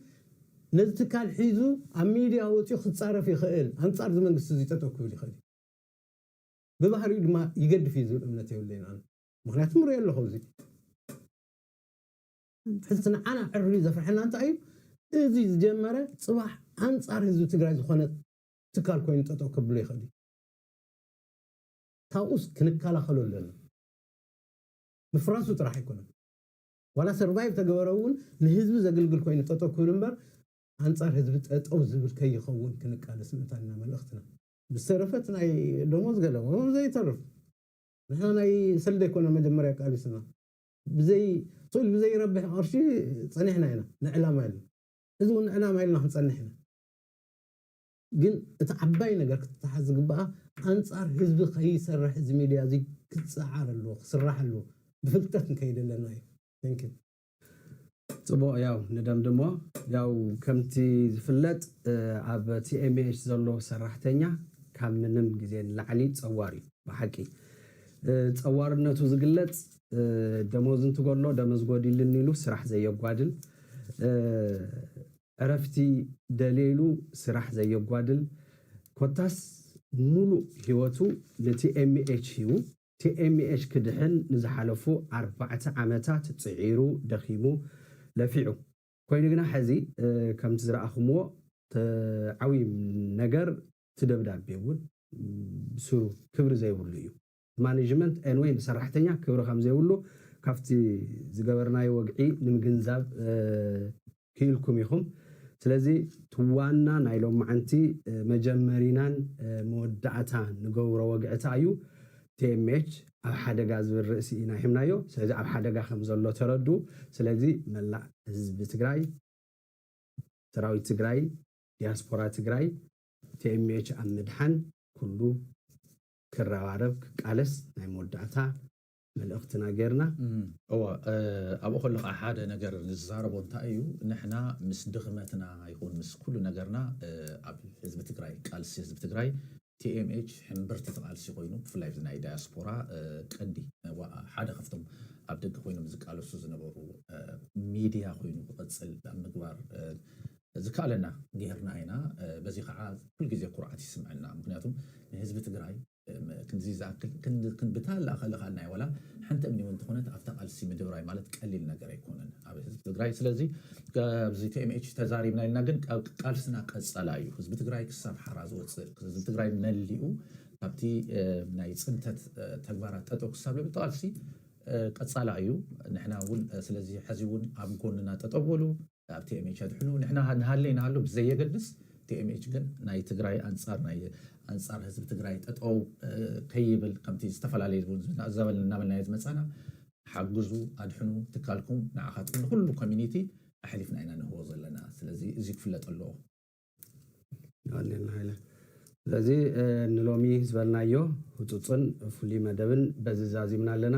ነዚ ትካል ሒዙ ኣብ ሚድያ ወጺኡ ክጻረፍ ይኽእል፣ ኣንጻር እዚ መንግስቲ እዚ ጠጠው ክብል ይኽእል እዩ። ብባህሪኡ ድማ ይገድፍ እዩ ዝብል እምነት የብለይን ኣነ። ምኽንያቱ ምርእዮ ኣለኹ ኣብዚ። ሕዚ ንዓና ዕርዩ ዘፍርሐና እንታይ እዩ እዙይ ዝጀመረ ፅባሕ ኣንፃር ህዝቢ ትግራይ ዝኾነ ትካል ኮይኑ ጠጠው ከብሎ ይኽእል እዩ ካብኡስ ክንከላኸሎ ኣለና ምፍራሱ ጥራሕ ኣይኮነን ዋላ ሰርቫይቭ ተገበረ እውን ንህዝቢ ዘግልግል ኮይኑ ጠጠው ክብል እምበር ኣንፃር ህዝቢ ጠጠው ዝብል ከይኸውን ክንቃለስ ምእንታን ኢና መልእኽትና ብዝተረፈት ናይ ደሞዝ ገለ ዘይተርፍ ንሕና ናይ ሰልዲ ኣይኮነን መጀመርያ ቃሊስና ብዘይ ሱድ ብዘይ ረብሕ ቐርሺ ጸኒሕና ኢና ንዕላማ ኢልና ሕዚ ውን ንዕላማ ኢልና ክንጸንሕ ኢና ግን እቲ ዓባይ ነገር ክትተሓዝ ዝግባኣ ኣንጻር ህዝቢ ከይሰርሕ እዚ ሚድያ እዚ ክጸዓር ኣለዎ ክስራሕ ኣለዎ ብፍልጠት ክንከይድ ኣለና ኢዩ Thank you። ጽቡቕ ያው ንደምድሞ። ያው ከምቲ ዝፍለጥ ኣብ TMH ዘሎ ሰራሕተኛ ካብ ምንም ግዜ ንላዕሊ ጸዋር እዩ ብሓቂ ጸዋርነቱ ዝግለጽ ደሞዝ እንትጎሎ ደመዝ ጎዲልኒ ኢሉ ስራሕ ዘየጓድል ዕረፍቲ ደልየ ኢሉ ስራሕ ዘየጓድል ኮታስ ሙሉእ ሂወቱ ንTMH ሂቡ tmh ክድሕን ንዝሓለፉ ኣርባዕተ ዓመታት ጽዒሩ ደኺሙ ለፊዑ ኮይኑ ግና ሕዚ ከምቲ ዝረኣኹምዎ ዓብይ ነገር እቲ ደብዳቤ እውን ብስሩ ክብሪ ዘይብሉ እዩ ብማኔጅመንት ኤንወይ ብሰራሕተኛ ክብሪ ከምዘይብሉ ካብቲ ዝገበርናዮ ወግዒ ንምግንዛብ ክኢልኩም ኢኹም ስለዚ ትዋና ናይ ሎማዓንቲ መጀመሪናን መወዳእታ ንገብሮ ወግዕታ እዩ tmh ኣብ ሓደጋ ዝብል ርእሲ ኢና ሂብናዮ ስለዚ ኣብ ሓደጋ ከምዘሎ ተረድኡ ስለዚ መላእ ህዝቢ ትግራይ ሰራዊት ትግራይ ዲያስፖራ ትግራይ tmh ኣብ ምድሓን ኩሉ ክረባረብ ክቃለስ ናይ መወዳእታ መልእኽትና ጌርና። እወ ኣብኡ ከለኻ ሓደ ነገር ንዛረቦ እንታይ እዩ ንሕና ምስ ድኽመትና ይኹን ምስ ኩሉ ነገርና ኣብ ህዝቢ ትግራይ ቃልሲ ህዝቢ ትግራይ TMH ሕምብርቲ እቲ ቃልሲ ኮይኑ ብፍላይ እዚ ናይ ዳያስፖራ ቀንዲ ሓደ ካብቶም ኣብ ደገ ኮይኖም ዝቃለሱ ዝነበሩ ሚድያ ኮይኑ ክቕፅል ኣብ ምግባር ዝከኣለና ጌርና ኢና። በዚ ከዓ ኩልግዜ ኩርዓት ይስምዐና ምኽንያቱ ንህዝቢ ትግራይ ክንድዚ ዝኣክል ብታላ ከልኻልናዮ ዋላ ሓንቲ እምኒ ውን ተኾነት ኣብታ ቃልሲ ምድብራይ ማለት ቀሊል ነገር ኣይኮነን ኣብ ህዝቢ ትግራይ ስለዚ ኣብዚ tmh ተዛሪብና ኢልና ግን ቃልስና ቀጸላ እዩ ህዝቢ ትግራይ ክሳብ ሓራ ዝወጽእ ህዝቢ ትግራይ መሊኡ ካብቲ ናይ ጽንተት ተግባራት ጠጠው ክሳብ ዝብል ቃልሲ ቀጻላ እዩ ንሕና ውን ስለዚ ሐዚ ውን ኣብ ጎንና ጠጠው በሉ ኣብ tmh ኣድሕኑ ንሕና ንሃሊ ኣይንሃሉ ብዘየገድስ tmh ግን ናይ ትግራይ ኣንፃር ናይ ኣንፃር ህዝቢ ትግራይ ጠጠው ከይብል ከምቲ ዝተፈላለዩ እውን ዝብልና እናበልናዮ ዝመፃና ሓግዙ ኣድሕኑ ትካልኩም ንዓኻትኩም ንኹሉ ኮሚኒቲ ኣሕሊፍና ኢና ንህቦ ዘለና ስለዚ እዚ ክፍለጥ ኣለዎ። ስለዚ ንሎሚ ዝበልናዮ ህፁፅን ፍሉይ መደብን በዚ ዛዚምና ኣለና።